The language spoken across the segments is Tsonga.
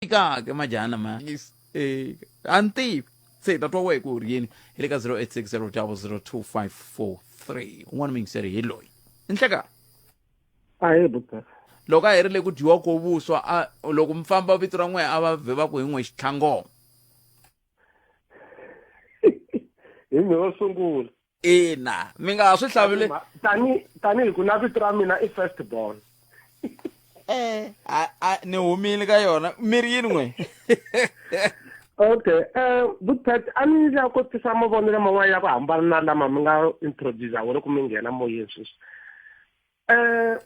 tika ke majana ma is eh anti se ta twa wehe ku ri yini hi le ka 0860002543 un'wana mingiseri hi loyi inhleka a hi buta loko a herile ku dyiwa ko vuswa a loko mi famba vito ra n'we a va vhe va ku hi n'we xitlhangoma hi mi va sungula ina mi nga ha swi hlavile tani tani hi ku na vito ra mina i first born eh a ni humile ka yona miri yini n'we okay eh butpet a ni la ku tisa mavonelo man'wana ya ku hambana na lama mi nga introduce wona ku mi nghena moyeni sweswi eh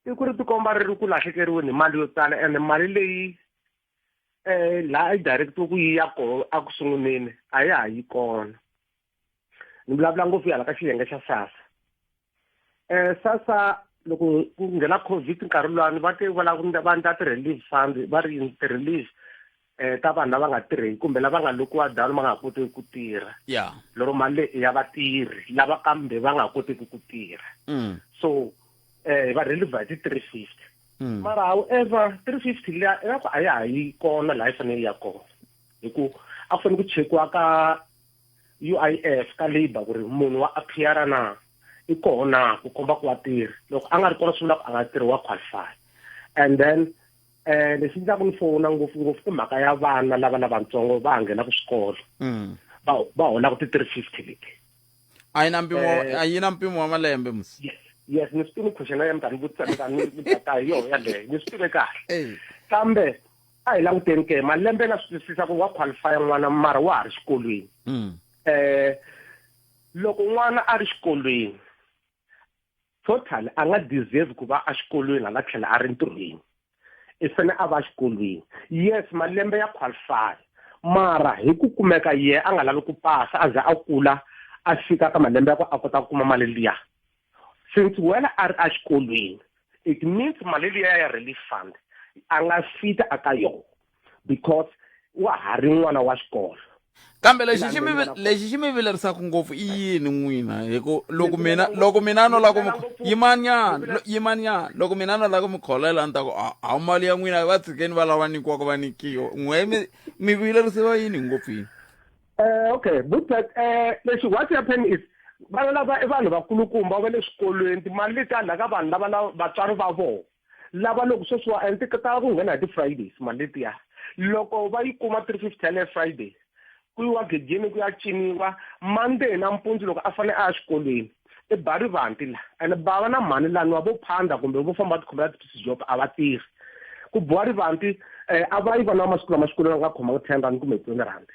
i ku ri tikomba ri ri ku lahlekeriweni hi mali yo tala ene mali leyi eh laha i directiwe ku yi ya kona a ku sunguleni a ya ha yi kona ni vulavula ngopfu yala ka xiyenge xa sasa eh sasa loko ku nghena covid nkarhi lwani va te va lava va ndla ti-relief fund va ri yini ti-relief eh, ta vanhu lava nga tirheki kumbe lava nga lokiwa down va nga kotiki ku tirha yeah. lero mali leyi ya vatirhi lava kambe va nga kotiki ku tirha mm. so um eh, va releva hi ti-three fifty mm. mara however three fifty liya ingaku a ya ha yi kona laha yi fanele yi ya kona hi ku a ku fanele ku chekiwa ka u i f ka labour ku ri munhu wa appeara na i koho na ku komba ku wa tirha loko a nga ri kona swi vula ku a nga tirhi wa qualify and then Eh lexi ndzaku ni fona ngopfungopfu i mhaka ya vana lava lavatsongo va ha nghenaka swikolo mm. va va holaka ti-three fifty leti a yi na mpimo eh. a yi na mpimo wa malembe mus yes ni swi tive question ya mi ta ni vutisa mi ta ni ta hi yona yaleyo ni swi tive kahle eh. kambe a hi languteni ke malembe na swi twisisa ku wa qualifya n'wana mara wa ha ri xikolweni um loko n'wana a ri xikolweni total a nga deserve ku va exikolweni hala tlhela a ri ntirhweni i fane a va exikolweni yes malembe ya qualify mara hi ku kumeka ye a nga lavi ku pasa a ze a kula a fika ka malembe ya ku a kota ku kuma mali liya since wena a ri exikolweni it means mali liya ya relief fund a nga fita aka yona because wa ha ri n'wana wa xikolo kambe lexi xi mi lexi xi mi vilerisaka ngopfu i yini n'wina hi ku loko mina loko mina no lava ku mi yimanyana yimanyana loko mina no lava ku mi kholela ni ta ku hawu mali ya n'wina va tshikeni va lava nyikiwaka va nyikiwa n'we mi mi vilerisiwa yini ngopfu yini um okay butet um eh, lexi what happen is vana lava i vanhu vakulukumba va le swikolweni timali leti ka vanhu lava vatswari va vona lava loko sweswiwa and ti tala ku nghena hi ti-fridays mali letiya loko va yi kuma three fifty yaleyo friday ku yiwa gedeni ku ya ciniwa monday nampundzu loko a fanele a ya xikolweni i ba rivanti la and bava na mhani laniwa vo phanda kumbe vo famba va tikhomela ti-piece job a va tirhi ku boha rivanti um a va yi vana va masiku lama xikolweni a nga khomanga ten rand kumbe twenty rand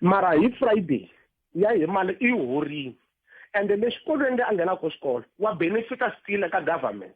mara hi friday ya hi mali i horini ende le xikolweni le a nghenaka ko xikolo wa benefita still eka government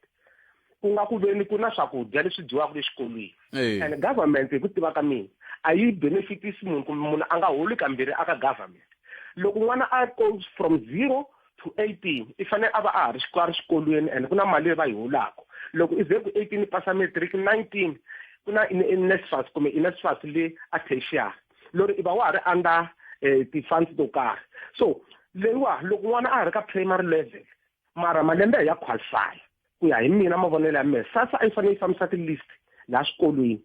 ku nga ku veni ku na swakudya leswi dyiwaka le xikolweni and government hi ku tiva ka mina a yi benefitisi munhu kumbe munhu a nga holi kambirhi aka government loko n'wana a goes from zero to eighteen i fanele a va a ha ri a ri xikolweni and ku na mali leyi va yi holaka loko i ze ku eighteen i pasa matric nineteen ku na inesfas kumbe inesfas le a tertiary lori i va wa ha ri under um ti-funds to karhi so leyiwa loko n'wana a ha ri ka primary level mara malembe ya qualify ku ya hi mina mavonelo ya mehe sasa a yi fanele yi fambisa ti-list laha swikolweni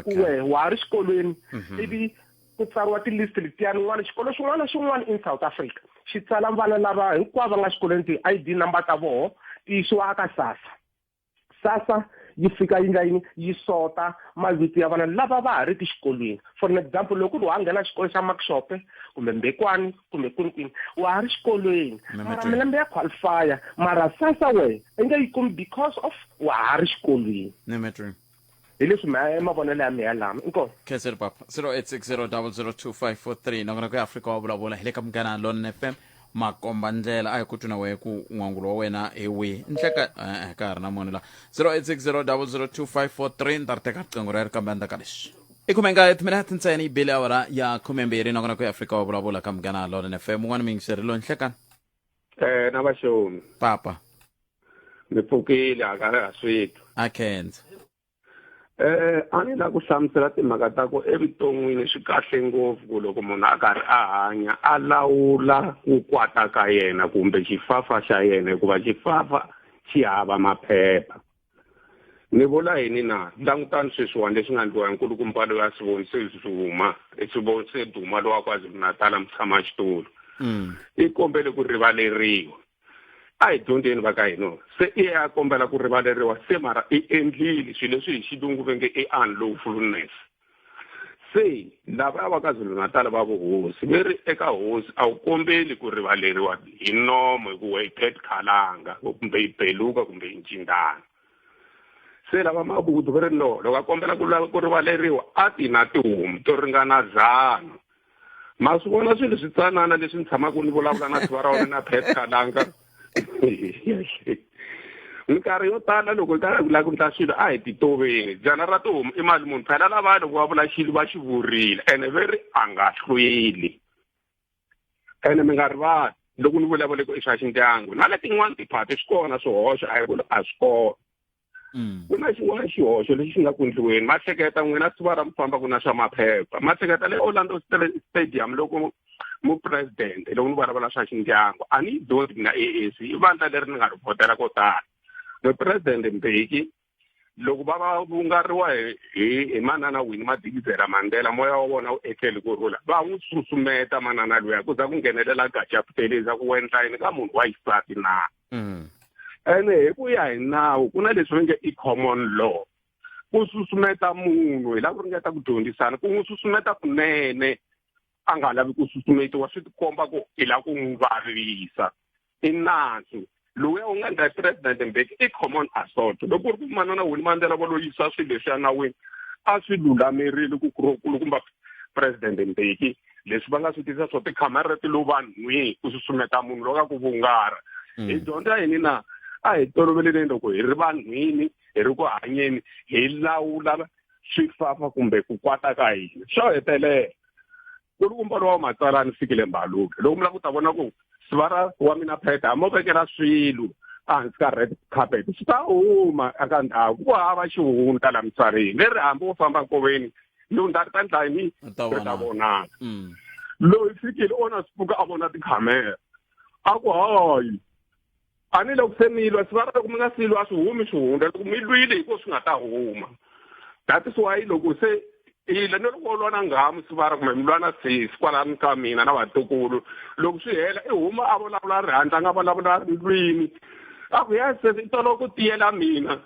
ku wehe wa ha ri xikolweni mhm. ivi ku tsariwa ti-list letiyani n'wana xikolo xin'wana na xin'wana in south africa xi tsala vana lava hinkwavo va nga xikolweni ti-i d number ta voho ti yisiwa aka sasa sasa yi fika yi nga yini yi sota mavito ya vana lava va ha ri ki xikolweni for an example loko ku ri wa nghena xikolo xa maxope kumbe mbekwani kumbe kwini kwini wa ha ri xikolweni mara milembe ya qualifya mara sasa wehe i nge yi kumi because of wa ha ri xikolweni hi leswi mavonelo ya mehe lama inkosi khenseri papa 0860002543 nakona ku ya afrika wa vulavula hi le ka munghana lone fm makomba ndlela a hi ku twi na wehe ku n'wangulo wa wena hi wihi nhleka eh, eh, ka ha ri na munhu la 0860002543 ni ta ri teka riqingho rero kambe a ni ta ka lexi i khume nkaye timinete ntsena yi bile awara ya khumembirhi nakona ku ya afrika wa vulavula ka munghana lone fm un'wana miyingiseri lo nhlekani Eh na vaxoni. papa Ni pfukile hakala ha switwa. akhenza Eh a ni la ku hlamusela timhaka ta ku evuton'wini swi kahle ngopfu ku loko munhu a karhi a hanya a lawula ku kwata ka yena kumbe xifafa xa yena hikuva xifafa xi hava maphepha. Ni vula yini na? Langutani sweswiwani leswi nga ndliwa hi nkulukumba loyi a swi vonise Zuma, i swi vonise Duma lowa KwaZulu-Natala mutshama xitulu. Mm. I kombele ku rivaleriwa. A hi dyondzeni va ka hina. Se i ya kombela ku rivaleriwa se mara i endlile swilo leswi hi xilungu ve nge i unlawfulness. se lava ya va ka zulu natal va vuhosi ve ri eka hosi a wu kombeli ku rivaleriwa hi nomo hikuva yi phet khalanga kumbe yi beluka kumbe yi ncindana se lava mabudu ve ri no loko a kombela ku lava ku rivaleriwa a ti na tihomu to ringana dzana ma swi vona swilo switsanana leswi ni tshamaka ni vulavula na tiva ra wena na petka langa minkarhi yo tala loko hi karhi hi lava ku ndla swilo a hi titoveni dyana ra tihomu i mali munhu phela lava loko va vula xilo va xi vurile ene ve ri a nga hlweli ene mi nga rivali loko ni vulavule ku i swa xindyangu na letin'wana tiphati swi kona swihoxo a hi ku a swi kona mm. ku na xin'wana xihoxo lexi xi nga ku ndliweni ma hleketa n'wina siva ra mi famba ku na swa maphepha ma hleketa le orlando stadium loko mupresidente loko ni vulavula swa xindyangu a ni yi dyondzi mina a a c i vandla leri ni nga ri vhotela ko tala mupresidente mbeki loko va va vungariwa hi hi manana wini madikizela mandela moya wa vona wu etleli ku rhula va n'wi susumeta manana luya ku za ku nghenelela gacha puteli za ku wendla yini ka munhu wa xisati na mm. ene hi ku ya hi nawu ku na leswi va nge i common law ku susumeta munhu hi lava ku ringeta ku dyondzisana ku n'wi susumeta kunene a nga lavi ku susumetiwa swi tikomba ku hi lava ku n'wi vavisa i nandzu loyi u nga ndla president mbeki i common assault loko ku ri ku manana wini mandlela va lo yisa swilo leswi ya nawini a swi lulamerile ku ku kumba president mbeki leswi va nga swi tisa swo tikhamera ti lo vanhwini ku susumeta munhu loka ku vungara mm. hi dyondza yini na a hi toloveleni loko hi ri vanhwini hi ri ku hanyeni hi lawula swifafa kumbe ku kwata ka hina swo hetelela ku ri kumbalo wa matsalani fikile mbaluke loko mi lava ku ta vona ku sivara wa mina pheta a mo vekela swilo ehansi ka red carpet swi ta huma eka ndhawu ku hava xihundla la misaveni leri hambi wo famba nkoveni lundza ri ta ndla yini ri ta vonaka mm. loyi fikile ona swi pfuka a vona tikhamera a ku hayi ani loko se mi lwa sivara loko mi nga si lwa swi humi swihundla loko mi lwile hi ko swi nga ta huma that is why loko se ila ni loko lwa na nghamu sivara kumbe mi lwa na sesi kwalani ka mina na vatukulu loko swi hela i huma a vulavula ri handla a nga vulavula ri lwini a ku ya sesi i tolo ku tiyela mina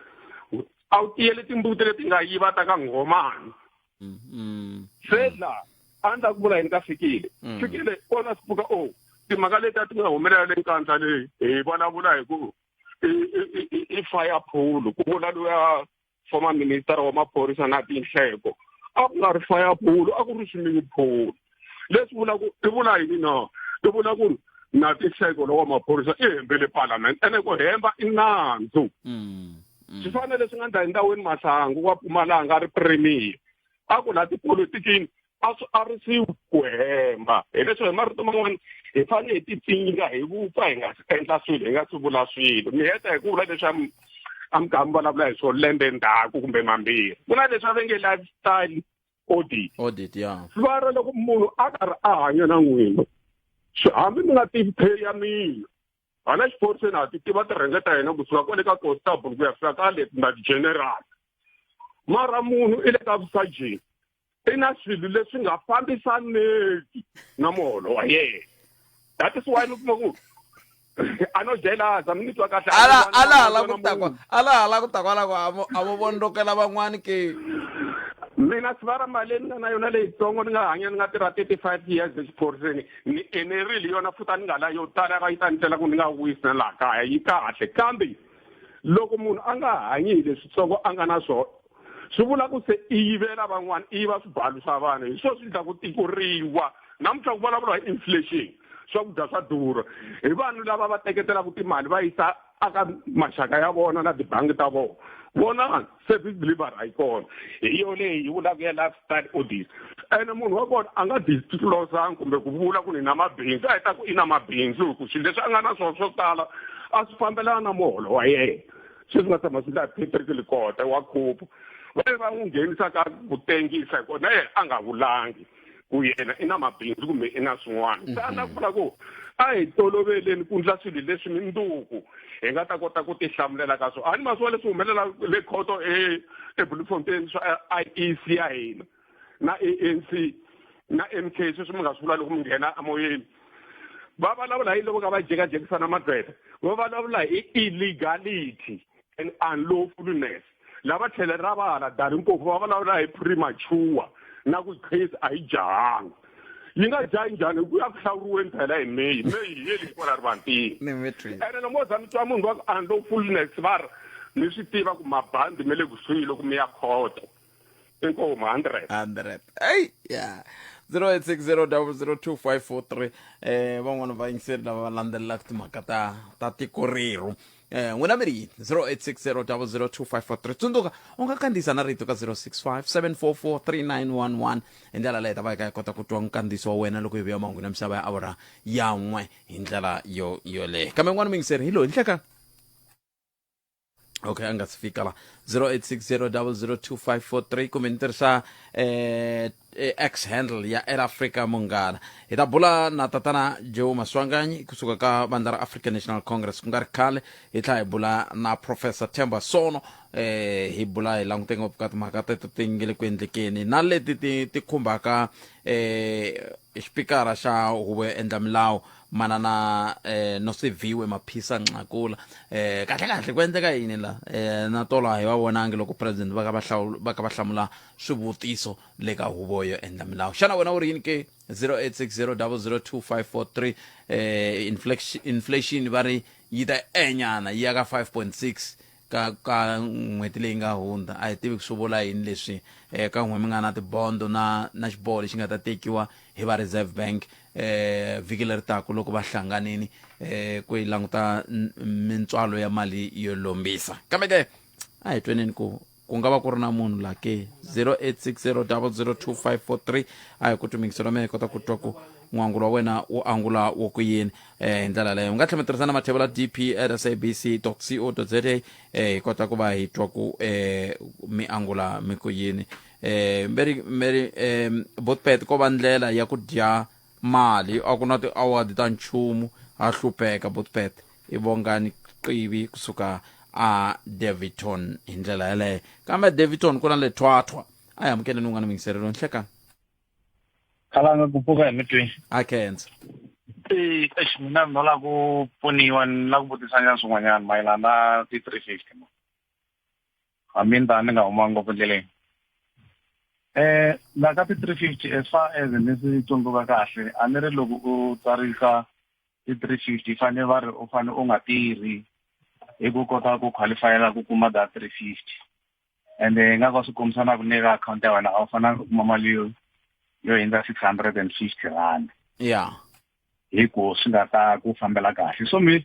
a wu tiyeli timbuti leti nga yiva ta ka nghomani Mm, mm. se laha a ni ta ku vula yini ka fikile Mm. fikile o na swi pfuka o timhaka leti a ti nga humelela le nkandla leyi hi vulavula hi ku i- i- i- i- i fire pool ku vula luya former minister wa maphorisa na tinhleko a ku nga ri fire pool a ku ri swimming pool leswi vula ku i vula yini no i vula ku ri na tixeko lowa maphorisa i hembele parliament ene ku hemba i nandzu mm, mm. swi fanele swi nga ndla endhawini mahlangu wa pumalanga ri premier a ku la tipolitikini a swi arisiwi ku hemba hileswo hi marito man'wana hi fanele hi tipfinga hi vupfa hi nga si endla swilo hi nga si vula swilo mi heta hi ku vula leswi a mi kha mi vulavula hi swo lembe ndzhaku kumbe mambirhi ku na leswi a ve nge lifestyle audit audit ya sivara loko munhu a karhi a hanya na n'wina hambi mi nga tivi pay ya mina hala xiphoriseni ha ti tiva tirhenge ta hina kusuka kwale ka constable ku ya fika ka le na general mara munhu i le ka vusajeni i na swilo leswi nga fambisaneki na muholo wa yena that is why mi kuma ku a no jelasa mi ni twa kahle ala ala ala ku takwa ala ala ku takwa la ku avo avo vondokela van'wani ke mina sivara mali leyi ni nga na yona leyitsongo ni nga hanya ni nga tirha thirty five years exiphoriseni ni enerile yona futa ni nga la yo tala va yi ta ni tlela ku ni nga wisi na laha kaya yi kahle kambe loko munhu a nga hanyi hi leswitsongo a nga na swona swi vula ku se i yivela van'wana i yiva swibalu swa vanhu hi swona swi endla ku tikuriwa namuntlha ku vulavuriwa hi inflation swakudya swa durha hi vanhu lava va teketelaka timali va yisa aka maxaka ya vona na tibangi ta vona vona service delivery a yi kona hi yo leyi yi vulaka ya lifestyle audit ene munhu wa kona a nga disclosanga kumbe ku vula ku ni na mabindzu a hi ta ku i na mabindzu hi ku swilo leswi a nga na swona swo tala a swi fambelana na muholo wa yena sweswi nga tshama swi nga petriki likota wa khupu va ye va n'wi nghenisa ka ku tengisa hikuva na yena a nga vulangi ku yena i na mabindzu kumbe i na swin'wana mhm. xana ku vula ku a hi toloveleni ku ndla swilo leswi minduku hi nga ta kota ku tihlamulela ka swona a ni ma swi vona leswi humelela le khoto e, ebloemfontein swa i e c ya hina na ANC na MK sweswi mi nga swi vula loko mi nghena amoyeni va vulavula hi loko ka va jekajekisana magqweta va vulavula hi illegality and unlawfulness lava tlhele ra va hala dari mpofu va vulavula hi premature na ku case a yi jahanga yi nga jahi njhani ku ya ku hlawuriweni phela hi may may hi yeli hikwala ri vantima ene lomo za mi twa munhu va ku unlawfulness va ri mi swi tiva ku mabandi me le kusuhi loko mi ya khoto inkomo 100 100 hey yeah 0860002543 eh van'wana va yingiseri lava va landzelelaka timhaka ta ta tiko rero eh n'wina mi ri yini 0860002543 tsundzuka u nga kandziyisa na rito ka 0657443911 hi ndlela leyi ta va yi ka yi kota ku twa nkandziyiso wa wena loko yi vuya mahungu na misava ya awura yan'we hi ndlela yo yoleyo kambe n'wana mi yingiseri hi loyi nhlekani okay a nga si fika la 0860002543 kumbe ni tirhisa eh, eh, x handle ya air africa munghana hi ta bula na tatana joe maswanganyi kusuka ka vandla ra african national congress ku nga ri khale hi tlha hi bula na professor temba sono eh, hi bula hi langute ngopfu ka timhaka teto ti nge le ku endlekeni na leti ti ti khumbaka eh, xipikara xa huvo yo endla milawu manana eh nosiviwe maphisa nxakula eh kahle kahle ku endleka yini la eh na tolo a hi va vonangi loko president va ka va hlawula va ka va hlamula swivutiso le ka huvo yo endla milawu xana wena u ri yini ke 0860002543 eh inflation inflation va ri yi ta enyana yi ya ka 5.6 ka ka n'hweti leyi nga hundza a hi tivi ku swi vula yini leswi um ka n'we mi nga na tibondo na na xiboho lexi nga ta tekiwa hi va reserve bank um vhiki leri taku loko va hlanganini um ku yi languta mintswalo ya mali yo lombisa kambe ke a hi tweneni ku ku nga va ku ri na munhu la ke 0860 002 543 a hi ku tumingiso la mina hi kota ku twa ku n'wangulo wa wena wu angula wo ku yini um hi ndlela leyo u nga tlhela mi tirhisa na mathevula dp at sabc co za um hi kota ku va hi twa ku um mi angula mi ku yini um mberi mberi um botpet ko va ndlela ya ku dya mali a ku na ti-award ta nchumu ha hlupheka botpet i vongani qivi kusuka a daviton hi ndlela yeleyo kambe daviton ku na le thwathwa a hi amukeleni un'wana muyingiselelo nhlekani khalanga ku pfuka hi mitwini a khensa e eish mina ni nola ku pfuniwa ni la ku vutisanyana swin'wanyana mayelana na ti-three fifty ma hambi ni ta ni nga huma ngopfu endleleni um la ka ti-three fifty as far as ni swi tsundzuka kahle a ni ri loko u tsarisa ti-three fifty fane va ri u fane u nga tirhi hi ku kota ku qualifyela ku kuma da three fifty and eh, nga ka swi kombisa na ku ne ka account ya wena a wu fanelanga u kuma mali yo yo hundza six hundred and fifty rand ya hi ku swi nga ta ku fambela kahle so mi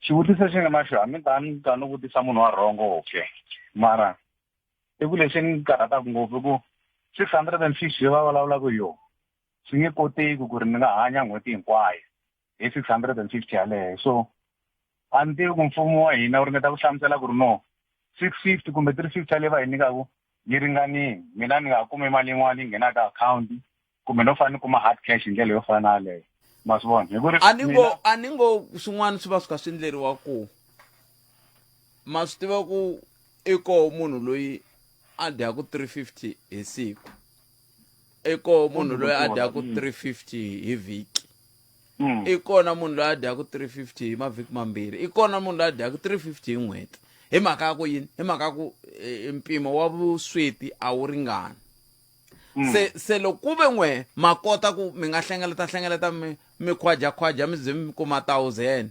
xivutiso xi nga na xo hambi ta ni ta ni vutisa munhu wa rhongo okay mara i ku lexi ni karhataka ngopfu i ku six hundred and fifty va vulavulaka hi yona swi nge koteki ku ri ni nga hanya n'hweti hinkwayo hi 650 yaleyo so a ni tivi ku mfumo wa hina wu ringeta ku hlamusela ku ri no 650 kumbe 350 yaleyi va hi nyikaku yi ringanini mina ni nga kumi mali yin'wana yi nghenaka akhawunti kumbe no fanele ni kuma hard cash hi ndlela yo fana na yaleyo ma swi vona hi ku ri a ni ngo a ni ngo swin'wana swi va swi kha swi endleriwa ku ma swi tiva ku i koho munhu loyi a dyaku 350 hi siku i koho munhu loyi a dyaku 350 hi vhiki mm. i kona munhu loyi a dyaku 350 hi mavhiki mambirhi i kona munhu loyi a dyaku 350 hi n'hweti hi mhaka ya ku yini hi mhaka ya ku e, e, mpimo wa vusweti a wu ringani mm. se se loko ku ve n'we ma kota ku mi nga hlengeleta hlengeleta mi mi khwajakhwaja mi ze mi kuma thousand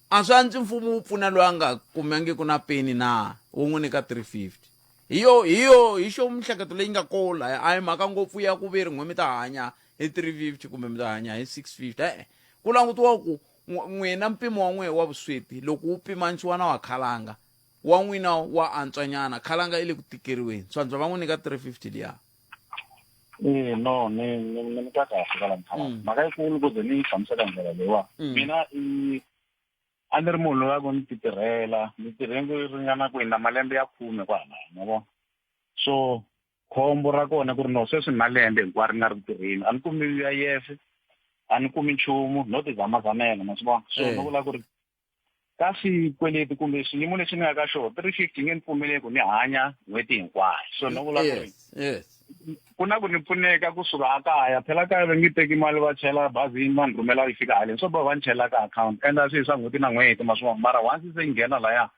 a swi antswi mfumo wu pfuna loyi a nga kumangiku na peni na wu n'wi nyika 350 hi yo hi yo hi xo mihleketo leyi nga ko laya a hi mhaka ngopfu ya ku ve ri n'we mi ta hanya hi 350 kumbe mi ta hanya hi 650 e-e ku langutiwa ku n'wina mpimo wa n'wehe wa vusweti loko wu pimanisiwa na wa khalanga wa n'wina wa antswanyana khalanga i le ku tikeriweni swantswa va n'wi nyika 350 liya Eh no ni ni ni ni ka kahle ka la mphaka. Mm. Mhaka yi kulu ku ze ni yi hlamusela ndlela leyiwa. Mm. Mina i a ni ri munhu loyi a ku ni ti tirhela ni tirhe ku ringana ku hina malembe ya khume kwalaya ma vona so khombo ra kona ku ri no sweswi ni na lembe hinkwaro ni nga ri ku tirheni a ni kumi u i f a ni kumi nchumu no ti zamazamela ma swi vona so ni vula ku ri ka swikweleti kumbe xiyimo lexi ni nga ka xona three fifty nge ni pfumeleki ni hanya n'hweti hinkwayo so ni vula ku ri ku na ku ni pfuneka kusuka a kaya phela kaya va nge teki mali va chela bazini va ni rhumela yi fika haleni swo ba va ni chela ka akhawunti endla swi swa n'hweti na n'hweti maswin'wana mara once se yi nghena laya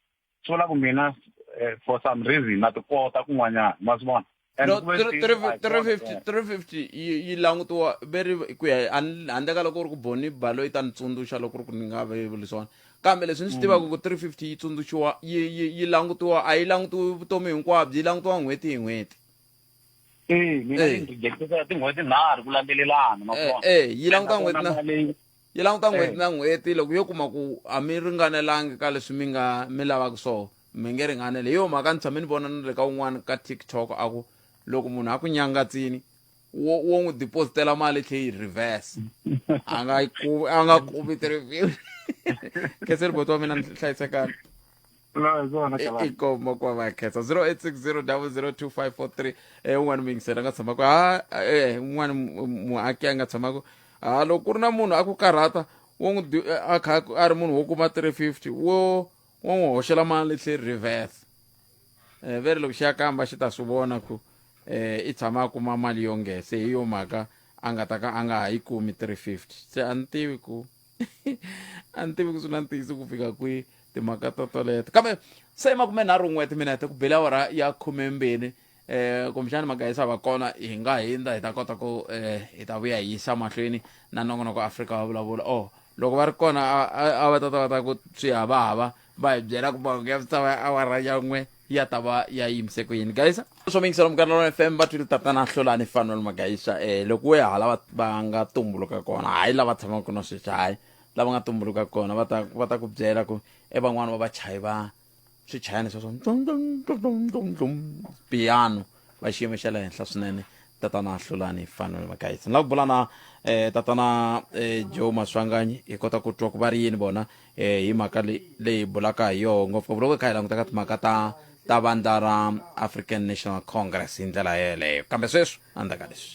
swi vula ku mina eh, for some reason na ti kota kun'wanyana maswin'wana no 350 yi langutiwa veri ku ya handle ka loko u ri ku boni balo yi ta ni tsundzuxa loko ri ku ni nga vevuli swona kambe leswi ni swi tivaka ku 350 yi tsundzuxiwa yi langutiwa a yi langutiwi vutomi hinkwabyo yi langutiwa n'hweti hi n'hweti mina ni rejectisa tin'hweti nharhu ku landzelelana makuva eh, eh, yi languta n'hweti na yi languta n'hweti eh. na n'hweti loko yo kuma ku a mi ringanelangi ka leswi mi nga mi lavaka swona mi nge ringanele hi yo mhaka ni tshame ni vona ni le ka un'wana ka tiktok a ku loko munhu a ku nyangatsini wo wo n'wi depositela mali tlhe yi reverse a nga yi a nga kumi ti-review khese riboto wa mina ni hlayisekana i koma kwa va khetsa 0860002543 eh un'wana muyingiseri a nga tshamaka ha eh un'wana mu- muaki a nga tshamaka ha loko ku ri na munhu a ku karhata wo n'wi di- a kha a ri munhu wo kuma 350 wo wo n'wi hoxela mali tlhe reverse eh veri loko xi ya kamba xi ta swi vona ku eh i tshama a kuma mali yo ngese hi yo mhaka a nga ta ka a nga ha yi kumi 350 se a ni tivi ku a ni tivi ku swi na ntiyiso ku fika kwihi timhaka to toleto kambe se makume nharhu n'we timinete ku bela awara ya khumembirhi eh kumbexani magayisa va kona hi nga hindza hi ta kota ku eh hi ta vuya hi yisa mahlweni na nongonoko afrika wa vulavula oh loko va ri kona a- a a va tata va ta ku swi hava hava va hi byela ku mahungu ya misava ya awara ya n'we ya ta va ya yimise ku yini gayisa swo mingisela mukanalona fm va twile tatana hlolani fanelo magayisa eh loko we hala va- va nga tumbuluka kona hayi lava tshamaka na sweswi hayi lava nga tumbuluka kona va ta va ta ku byela ku e van'wani va vachayi va swichayani sweswo piano va xiyimo xa le henhla swinene tatana hlulani fanele makayitsi ni lava ku bula na um tatana um joe maswanganyi hi kota ku twa ku va ri yini vona um hi mhaka leyi bulaka hi yoho ngopfungopfu loko hi kha hi languta ka timhaka ta ta vandla ra african national congress hi ndlela yeleyo kambe sweswi a ndzaka leswi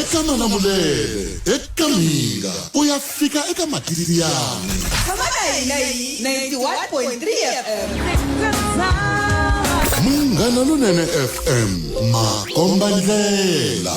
eka malamulele eka mhinga u ya fika eka matililiyani Come on, I like 91.3 FM. munghana lonene fm makomba ndlela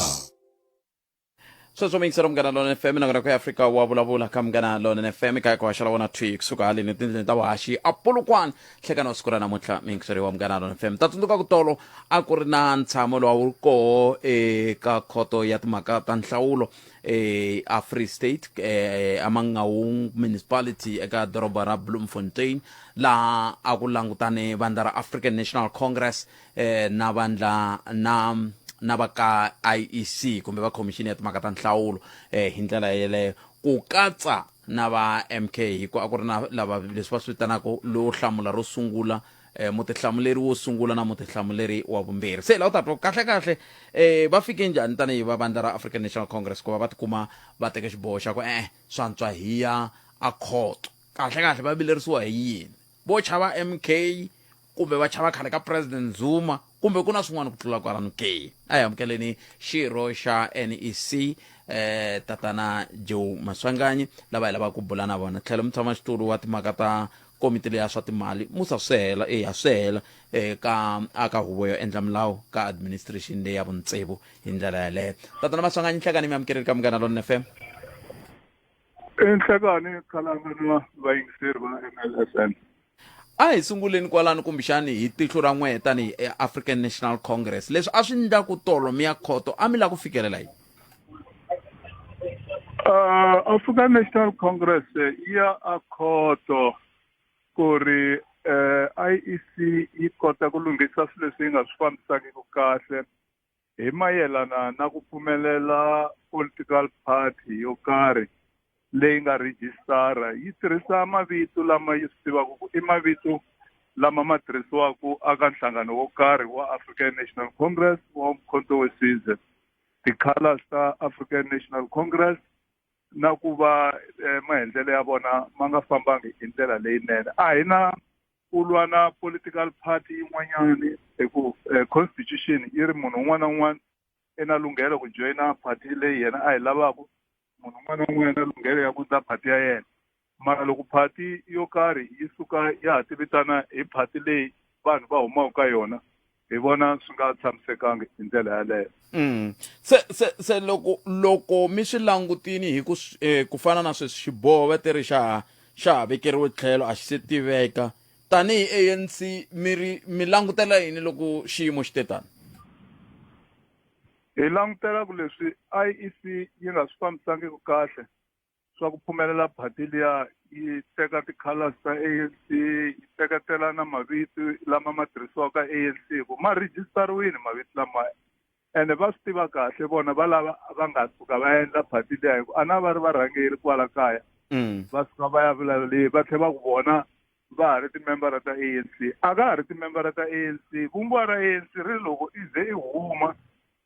sweswo mi yingisela munghana lona fm nakona ku ya afrika wa vulavula ka munghana lona fm kaya ku haxela wona twi kusuka haleni etindleni ta vuhaxi apulukwana hlekana wa siku ra namuntlha miyingiseri wa munghana lona fm ta tsundzuka ku tolo a ku ri na ntshamo lowa wu ri koho eka khoto ya timhaka ta nhlawulo eh, a free state eh, amangaung municipality eka doroba ra bloemfontein laha a ku langutane vandla ra african national congress eh, na vandla na na va ka iec kumbe va khomixini ya timhaka ta nhlawulo eh, hi ndlela yeleyo ku katsa na va mk hikuva a ku ri na lava leswi va swi vitanaka lowo hlamula ro sungula eh, mutihlamuleri wo sungula na mutihlamuleri wa vumbirhi se laha u ta twa kahle kahle eh, va fike njhani tanihi va vandla ra african national congress ku va va tikuma va teke xiboho xa ku e-e swantswa hiya a khoto kahle kahle va vilerisiwa hi yini vo chava MK kumbe va chava khale ka President Zuma kumbe ku na swin'wana ku tlula kwalano ke? A hi amukeleni xirho xa NEC eh tatana Joe Maswanganyi lava hi lavaka ku bula na vona tlhelo mutshama xitulu wa timhaka ta komiti leya swa timali musa swihela eya swihela eka aka huvo yo endla milawu ka administration leya vuntsevu hi ndlela yaleyo tatana maswanganyi nhlekani mi amukerile ka munghana lon fm enhlekani khalanga na vayingiseri va mlsn a hi sunguleni kwalano kumbexani hi tihlo ra n'wehe tanihi eafrican national congress leswi a swi ndla ku tolo mi ya khoto a mi la ku fikelela yini uh, african national congress eh, ya a khoto ku ri um eh, iec yi kota ku lunghisa swilo leswi yi nga swi fambisakiki kahle hi mayelana na ku pfumelela political party yo karhi leyi nga rhijisitara yi tirhisa mavito lama yi swi tivaka ku i mavito lama ma tirhisiwaka aka nhlangano wo karhi wa African National Congress wa Mkhonto we Sizwe ti-colors ta African National Congress na ku va eh, maendlelo ya vona ma nga fambangi hi ndlela leyinene a hi na u lwa na political party yin'wanyani hi ku eh, constitution yi ri munhu un'wana na un'wana i na lunghelo ku joyina party leyi yena a yi lavaku munhu un'wana na un'wana na lunghelo ya ku ndza party ya yena mara loko party yo karhi yi suka ya ha tivitana hi party leyi vanhu va humaka ka yona hi vona swi nga tshamisekanga hi ndlela yaleyo mm. se se se loko loko mi swi langutini hi ku eh, ku fana na sweswi xiboho va ti ri xa xa ha vekeriwe tlhelo a xi se tiveka tanihi anc mi ri mi langutela yini loko xiyimo xi te tani hi langutela ku leswi iec yi nga swi fambisangiki kahle swa ku pfumelela phati liya yi teka ti-colors ta anc yi teketela na mavito lama ma tirhisiwaka anc ku ma rejistariwile mavito lamaya ene va swi tiva kahle vona va lava va nga suka va endla phati liya hi ku a na va ri varhangeri kwala kaya mm. va suka va ya vulavuli va tlhela va ku vona va ha ri timembara ta anc a ka ha ri timembara ta anc vumbiwa ra anc ri loko i ze i huma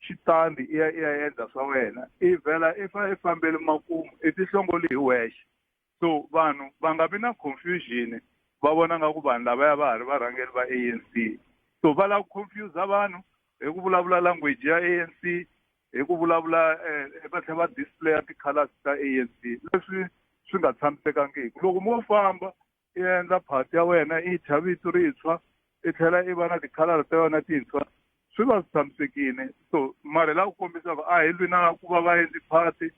xitandi i ya i ya endla swa wena i vhela i fa i fambeli makumu i tihlongoli hi wexe so vanhu va nga vi na confusion va vona nga ku vanhu lavaya va ha ri varhangeri va ANC so va lava ku confuse vanhu hi ku vulavula language ya ANC hi ku vulavula eh, va tlhela va displaya ti-colors ta ANC leswi swi nga tshamisekangiki loko mo famba i endla phati ya wena i thya vito rintshwa i tlhela i va na tikhalara ta yona tintshwa swi va swi tshamisekile so mara la ku kombisaka a hi lwi na ku va va endli phati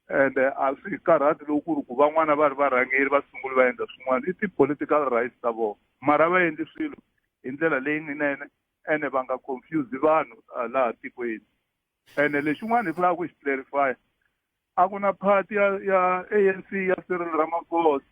and a swi karhati loku ku ri ku van'wana va ri varhangeri va sunguli va endla swin'wana i ti-political rights ta vona mara va endli swilo hi ndlela leyinene ene va nga confuse vanhu laha tikweni ene lexin'wana hi fanelaka ku xi clarifya a ku na party ya ya anc ya cyril ramaphosa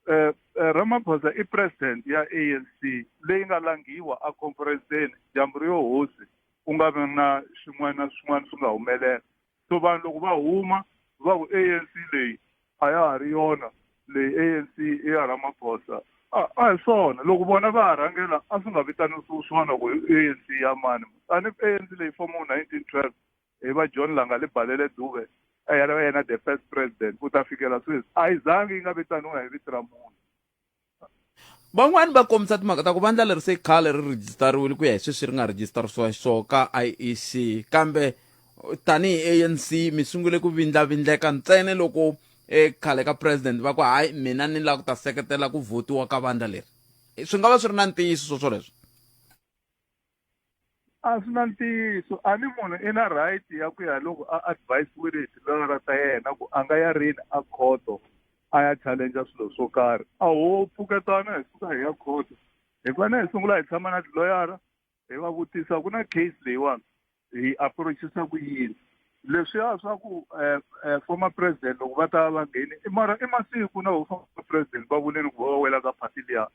um ramaphosa i president ya anc leyi nga langhiwa a conferenseni dyambu ri yo hosi ku nga vi na swin'wana na swin'wana swi nga humelela so vanhu loko va huma va ku anc leyi a ya ha ri yona leyi anc i ya ramaphosa a a hi swona loko vona va ha rhangela a swi nga vitanisiwi swona ku anc ya mani tani anc leyi fomiwe nineteen twelve hi va john langa li balele duve a ya va yena the first president ku ta fikela sweswi a yi zangi yi nga vitaniwa hi vito ra munhu van'wani va kombisa timhaka ta ku vandla leri se khale ri rhejistariwile ku ya hi sweswi ri nga rhejistarisiwa xiswona ka iec kambe tanihi anc mi sungule ku vindlavindleka ntsene loko ekhale ka president va ku hayi mina ni lava ku ta seketela ku votiwa ka vandla leri swi nga va swi ri na ntiyiso swo swoleswo a swi na ntiyiso a ni munhu i na right ya ku ya loko a advisiwile hi tilawara ta yena ku a nga ya rini a khoto a ya challenge swilo swo karhi a ho pfuketana hi suka hi ya khoto hi fanele hi sungula hi tshama na tiloyara hi va vutisa ku na case leyiwani hi approachisa ku yini leswiya swa ku eh, eh, former president loko va ta va ngheni i mara i masiku na former president va vuleni ku va va wela ka party liya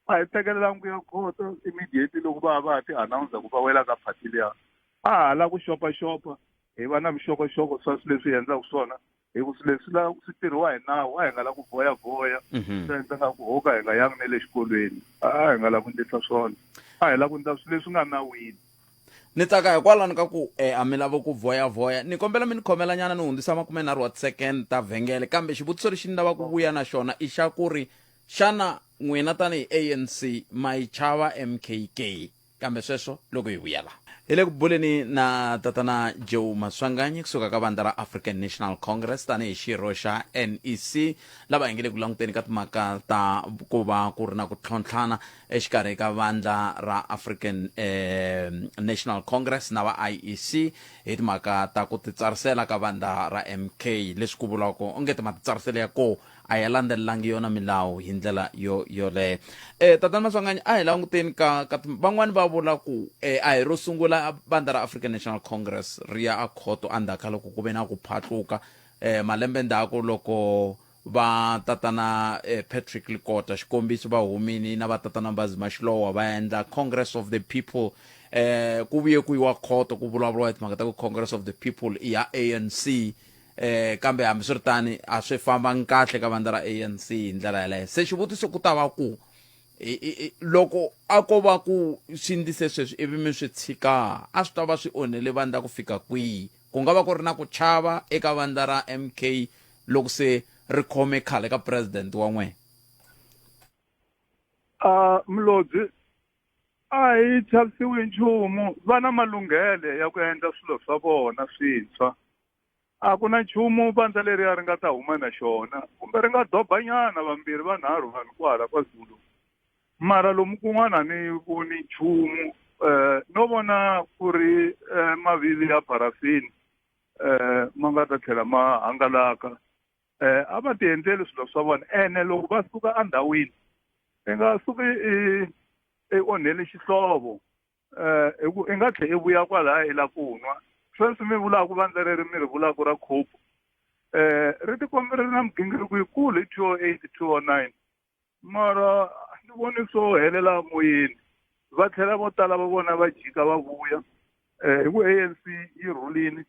a hi tekelelanga ku ya khoto immediately loko va va ti announcer ku va wela ka party liya a ha la ku xopaxopa hi va na vuxokoxoko swa swi leswi hi endlaka swona hi ku swi leswi la swi tirhiwa hi nawu a hi nga la ku voya voya mhm. swi endlaka ku hoka hi nga yangi ne le xikolweni a hi nga la ku ndlisa swona a hi la ku ndla swi leswi nga nawini ni tsaka hikwalani ka ku e a mi lavo ku voya voya ni kombela mi ni khomela nyana ni hundzisa makume nharhu wa tisecond ta vhengele kambe xivutiso lexi ni lava ku vuya na xona i xa ku ri Xana n'wina tanihi ANC ma yi chava MK ke? Kambe sweswo loko hi vuya la. Hi le ku buleni na Tatana Joe Maswanganyi ku suka ka vandla ra African National Congress tanihi xirho xa NEC lava hi nge le ku languteni ka timhaka ta ku va ku ri na ku tlhontlhana exikarhi ka vandla ra African National Congress na va IEC hi timhaka ta ku titsarisela ka vandla ra MK leswi ku vuriwaka onge ti matitsariselo ya koho a ya landzelelangi yona milawu hi ndlela yo yoleyo eh tatana maswanganyi a hi languteni ka ka van'wani va vula ku eh a hi ro sungula bandla ra African National Congress ri ya a khoto endzhaku ka loko ku ve na ku phatluka eh malembe ndzhaku loko va tatana eh, Patrick Likota xikombiso va humini na va tatana Mbazima Xilowa va endla Congress of the People eh ku vuye ku yiwa khoto ku vulavuriwa hi timhaka ta ku Congress of the People i ya ANC eh kambe hambiswiritani a swi fambangi kahle ka vandla ra ANC hi ndlela yaleyo se xivutiso ku ta va ku loko a ko va ku swi ndise sweswi ivi mi swi tshika a swi ta va swi onhele vandla ku fika kwihi ku nga va ku ri na ku chava eka vandla ra MK loko se ri khome khale ka president wa n'wina a mlodzi a hi chavisiwi nchumu va na malunghele ya ku endla swilo swa vona swintshwa a ku na nchumu vandza leriya ri nga ta huma na xona kumbe ri nga dobanyana vambirhi vanharhu vanhu kwahala ka zulu mara lomu kun'wana ni voni nchumu um no vona ku ri um mavivi ya parafini um ma nga ta tlhela ma hangalaka um a va ti endleli swilo swa vona ene loko va suka endhawini i nga suki i onheli xihlovo eh hi ku i nga tlhe i vuya kwalaya i la ku nwa sweswi mi vulaka ku vandla reri mi ri vulaka ra khopo eh ri tikombe ri na migingiriko yikulu hi two o oh eight two o oh nine mara ni voni swo helela moyeni va tlhela vo tala va vona va jika va vuya um hi ku a n c yi rhulini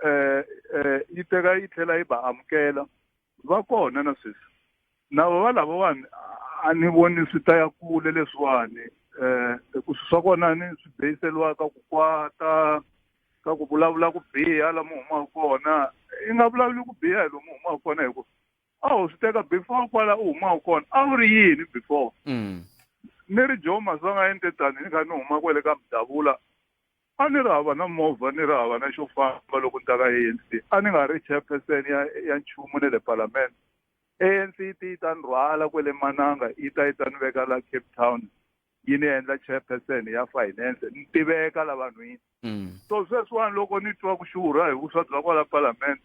eh eh yi teka yi tlhela yi ba amukela va kona na sweswi na va lavawani a ni voni swi ta ya kule leswiwani eh ku swi swa kona ni swi beyiseliwaka ku kwata ka ku vulavula ku biha lamu humaka kona i nga vulavuli ku biha hi lomu humaka kona hi ku a wu swi teka before kwala u humaka kona a wu ri yini before mm. ni ri joe masonga entetani ni kha ni huma kwele ka mudavula a ni ri hava na movha ni ri hava na xo famba loko ni ta ka anc a ni nga ri chairperson ya ya nchumu ne le palamende anc yi ti yi ta ni rhwala kwele mananga yi ta yi ta ni veka la cape town yi ni endla chairperson ya finance ni tiveka la vanhwini mm. so sweswiwani loko ni twa ku xurha hi vuswa bya kwala palamende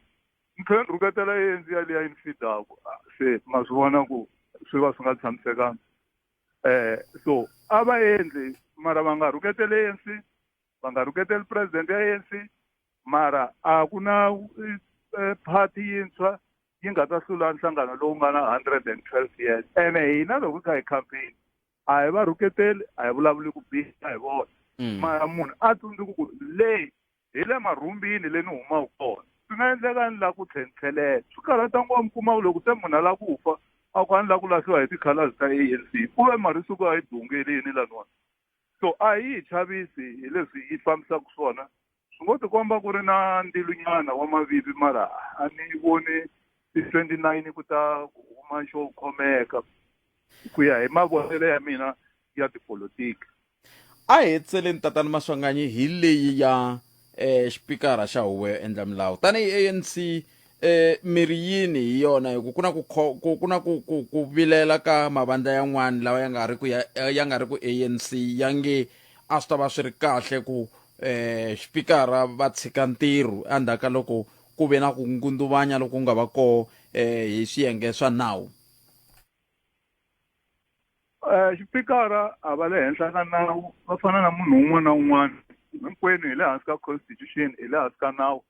ni tlhela ni rhuketela anc yaliya yi ni fidaku ah, se ma swi vona ku swi va swi nga tshamisekanga eh so a va endli mara va nga rhuketeli ANC va nga rhuketeli president ya ANC mara a ku na eh, party yintshwa yi nga ta hlula nhlangano lowu nga na 112 years ene hina loko hi kha hi campaign a hi va rhuketeli a hi vulavuli ku biha hi vona mm. mara munhu a tsundzuku ku leyi hi le marhumbini le ni humaka kona swi nga endleka ni lava ku tlhentlhelela swi karhata ngopfu mi kuma loko se munhu a lava ku fa a ku a ni lava ku lahliwa hi ti-colors ta a n c ku ve marisuku a yi dungeli yini laniwani so a yi hi chavisi hi leswi yi fambisaka swona swi ngo tikomba ku ri na ndlilunyana wa mavivi mara a ni voni ti-twenty nine ku ta huma xo khomeka ku ya hi mavonelo ya mina ya tipolotiki A hi hetseleni tatana Maswanganyi hi leyi ya eh, xipikara xa huvo yo endla milawu tanihi ANC eh, miri yini hi yona hi ku ku na ku kho- ku- ku na ku- ku- ku vilela ka mavandla yan'wana lawa ya nga ri ku ya eh, ya nga ri ku ANC ya nge a swi ta va swi ri kahle ku eh, xipikara va tshika ntirho endzhaku ka loko ku ve na ku ngundzuvanya loku nga va koho eh, hi swiyenge swa nawu Eh, xipikara a va le henhla ka nawu va fana na munhu un'wana na un'wana hinkwenu hi le hansi ka constitution hi le hansi ka nawu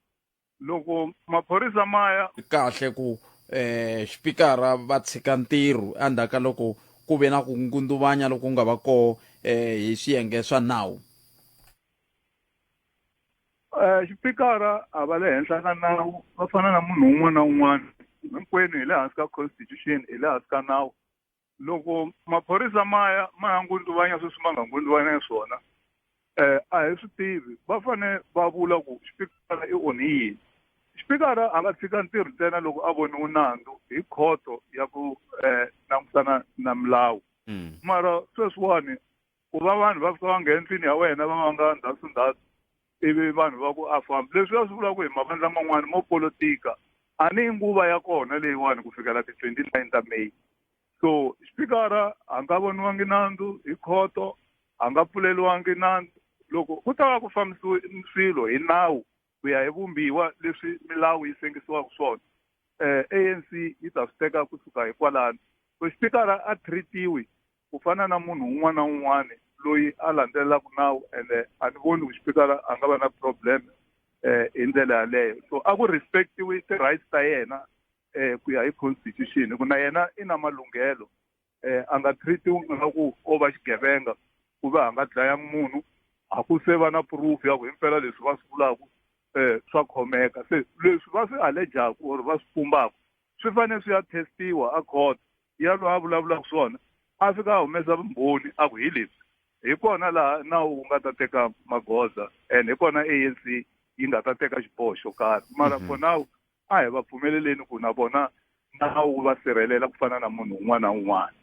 loko maphorisa ma ya kahle ku eh xipikara va tshika ntirho endzhaku ka loko ku ve na ku ngundzuvanya loku nga va koho eh hi swiyenge swa nawu Eh, xipikara a va le henhla ka nawu va fana na munhu un'wana na un'wana hinkwenu hi le hansi ka constitution hi le hansi ka nawu loko maphorisa ma ya ma ya ngundzuvanya sweswi ma nga ngundzuvanya swona um a hi swi tivi va fane va vula ku xipikara i onhi yini xipikara a nga tshika ntirho ntsena loko a voniwe nandzu hi khoto ya ku um langutana na milawu hmm. mara sweswiwani ku va vanhu va fika va nghena endlwini ya wena va va nga ndhawu ndhawu ivi vanhu va ku a famba leswi va swi vulaka hi mavandla man'wana mo politika a ni nguva ya kona leyiwani ku fikela ti-twenty nine ta may so xipikara a nga voniwangi nandzu hi khoto a nga pfuleliwangi nandzu loko ku ta va ku fambisiwe swilo hi nawu ku ya hi vumbiwa leswi milawu yi sengisiwaka swona eh ANC yi ta swi teka kusuka hi kwalano so xipikara a treatiwi ku fana na munhu un'wana na un'wana loyi a landzelelaka nawu ende a ni voni ku xipikara a nga va na problem eh hi ndlela yaleyo so a ku respectiwi ti-rights ta yena eh ku ya hi constitution ku na yena i na malunghelo eh, a nga treatiwi ngaku o va xigevenga ku va a nga dlayanga munhu a ku se va na proof ya ku hi mpela leswi va swi vulaka um swa khomeka se leswi va swi allejaku or va swi pumbaka swi fanele swi ya testiwa a court ya loyi a vulavulaka swona a fika a humesa vumbhoni a ku hi leswi hi kona laha nawu wu nga ta teka magoza and hi kona anc yi nga ta teka xiboho xo karhi mara mhm. for now a hi va pfumeleleni ku na vona nawu wu va sirhelela ku fana na munhu un'wana na un'wana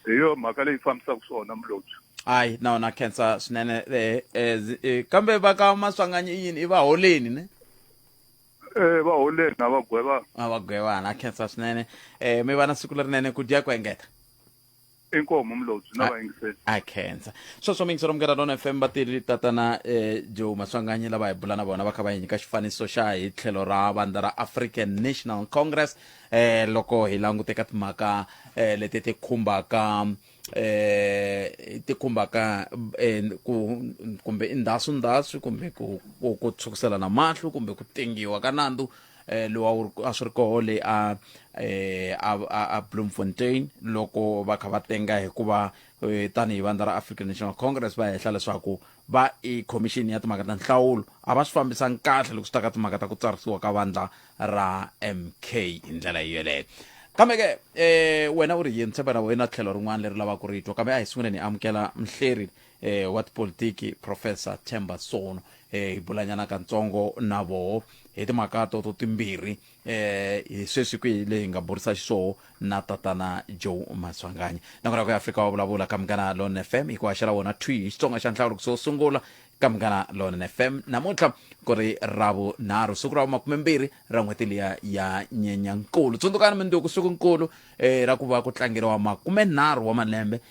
hi yo mhaka leyi fambisaka swona mulobyi hayi na wona khensa swinene eh, eh, zi- eh, kambe va ka maswanganyi i yini i va holeni ne um va holeni a va gwevanga a va gwevana khensa swinene um mi va na siku lerinene ku dya ku engeta inkomu mlobyi na vayingiseli a khensa sweswo mingisi ro mugera lona fm vatirhi tatana eh, joe maswanganyi lava hi bula na vona va kha va hi nyika xifaniso xa hi tlhelo ra vandla ra african national congress eh, loko hi languteka timhaka eh, leti ti khumbaka eh ti khumbaka eh, ku kumbe i ndhasu ndhasu kumbe ku ku- ku tshukiselana mahlo kumbe ku tengiwa ka nandzu eh, lowa a swi ri koho le a eh, a, a, a bloemfontein loko va kha va tenga hikuva eh, tanihi vandla ra african national congress va hehla leswaku va i commission ya timhaka ta nhlawulo a va swi fambisani kahle loko swi ta ka timhaka ta ku tsarisiwa ka vandla ra mk hi ndlela yi yeleyo kambe ke eh wena u ri yini tshemba na wena tlhelo rin'wana leri lavaka ku ri twa kambe a hi sunguleni hi amukela mhleri eh, wa tipolitiki professor chamber sono eh, hi bulanyana katsongo na voho hi timhaka toto timbirhi eh, hi sweswi kwihi leyi hi nga burisa xiswoho na tatana joe maswanganyi nakona ku ya afrika wa vulavula ka munghana lon f m hi ku haxela wona twi hi xitsonga xa nhlawulo kuso sungula ka munghana lon f m namuntlha ku ri ravunharhu siku ra vumakumembirhi ra n'hweti liya ya nyenyankulu tsundzukani minduku siku nkulu eh, ra ku va ku tlangeriwa makumenharhu wa malembe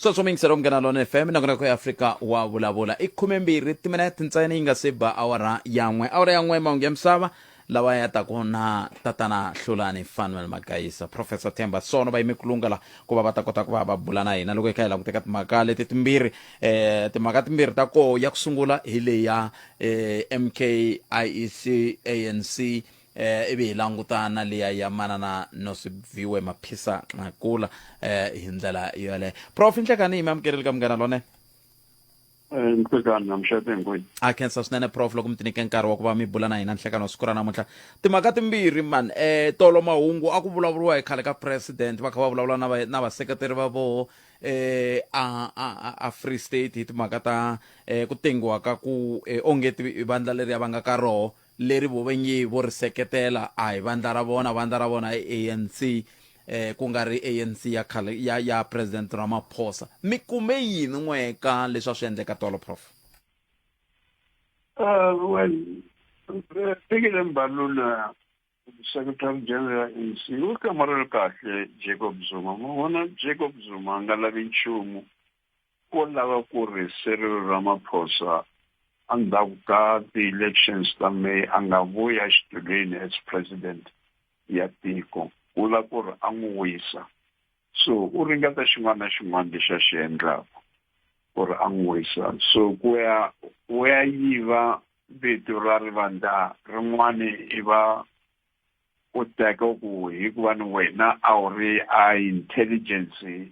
sweswo miyingiselo munghana lona fm nakona ku afrika wa vulavula i khumembirhi timinete ntsena yi nga se ba awara yan'we awara yan'we mahungu ya misava lawa ya ta kona tatana hlulani fanuel magayisa professor temba sono va yime kulunga la ku va va ta kota ku va va bula na hina loko hi kha hi languteka timhaka leti timbirhi eh timhaka timbirhi ta koho ya ku sungula hi leya eh mk iec anc Eh, ivi hi languta na liya ya manana Nosibviwe Maphisa Nqakula eh, hi ndlela yole prof nhlekani hi mi amukerile ka munghana lone Eh, nsekani namshete ngwini a khensa swinene prof loko mi tinike nkarhi wa ku va mi bula na hina nhlekani wa siku ra namuntlha timhaka timbirhi man eh tolo mahungu a ku vulavuriwa hi khale ka president va kha va vulavula na va- na vaseketeri va voho eh a a a- a free state hi timhaka ta eh ku tengiwa ka ku eh, onge ti- vandla leriya va nga ka roho leri vo venyi vo ri seketela a hi vandla ra vona, vandla ra vona i ANC, ku nga ri ANC ya khale ya ya President Ramaphosa. Mi kume yini n'we ka leswi a swi endleka tolo Prof? Uh, well, Fikile Mbalula Secretary General ya ANC u hlamurele kahle Jacob Zuma. N'wina Jacob Zuma a nga lavi nchumu ko lava ku ri Cyril Ramaphosa endzhaku ka ti-elections ta May a nga vuyi exitulwini as president ya tiko u la ku ri a n'wi wisa so u ringeta xin'wana na xin'wana lexi a xi endlaka ku ri a n'wi wisa so ku ya u ya yiva vito ra rivandla rin'wani i va u teka ku hikuva ni wena a wu ri a intelligence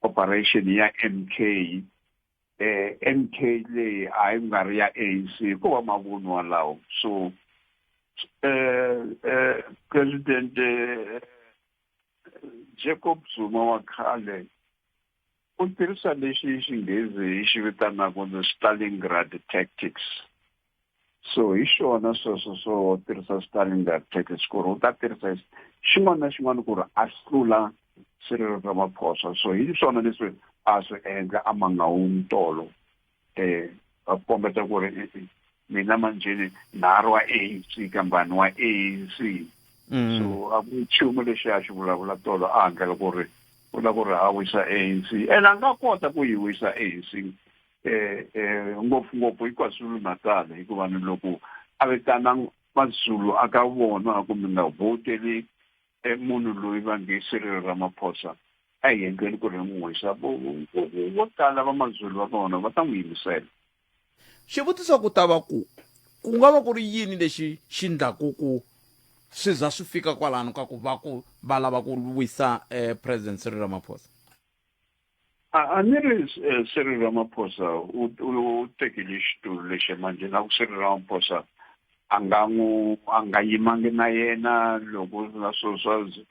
operation ya MK eh MK leyi a yi nga ri ya ANC ko va mavunwa lawo so eh eh president eh, Jacob Zuma wa khale u tirhisa lexi xinghezi xi vitanaka the Stalingrad tactics so hi xona sweswo swo tirhisa stalindar package ku ri u ta tirhisa xin'wana na xin'wana ku ri a hlula swirilo swa maphosa so hi swona leswi a swi endla a mangawungi tolo um a kombeta ku ri mina manjheni nharhu wa anc kambani wa anc mm. so a ku nchumu lexi a xi vulavula tolo a handlela ku ri u la ku ri a wisa anc ene a nga kota ku yi wisa anc eh, eh, ngopfungopfu hi kwazulu natal hikuva ni loko a vitana mazulu a ka vona ku mi nga voteli eh, munhu loyi va nge sirilo ra maphosa a hi endleni ku ri n'wi wisa vo tala va mazulu va vona va ta n'wi yimisela xivutiso ku ta va ku ku nga va ku ri yini lexi xi ndlaku ku swi za swi fika kwalano ka ku va ku va lava ku wisa um president siri ramaphosa a a ni ri eh, Cyril Ramaphosa u u- u tekile xitulu lexi manje na ku Cyril Ramaphosa a nga n'wi a nga yimangi na yena loko na swo swa z-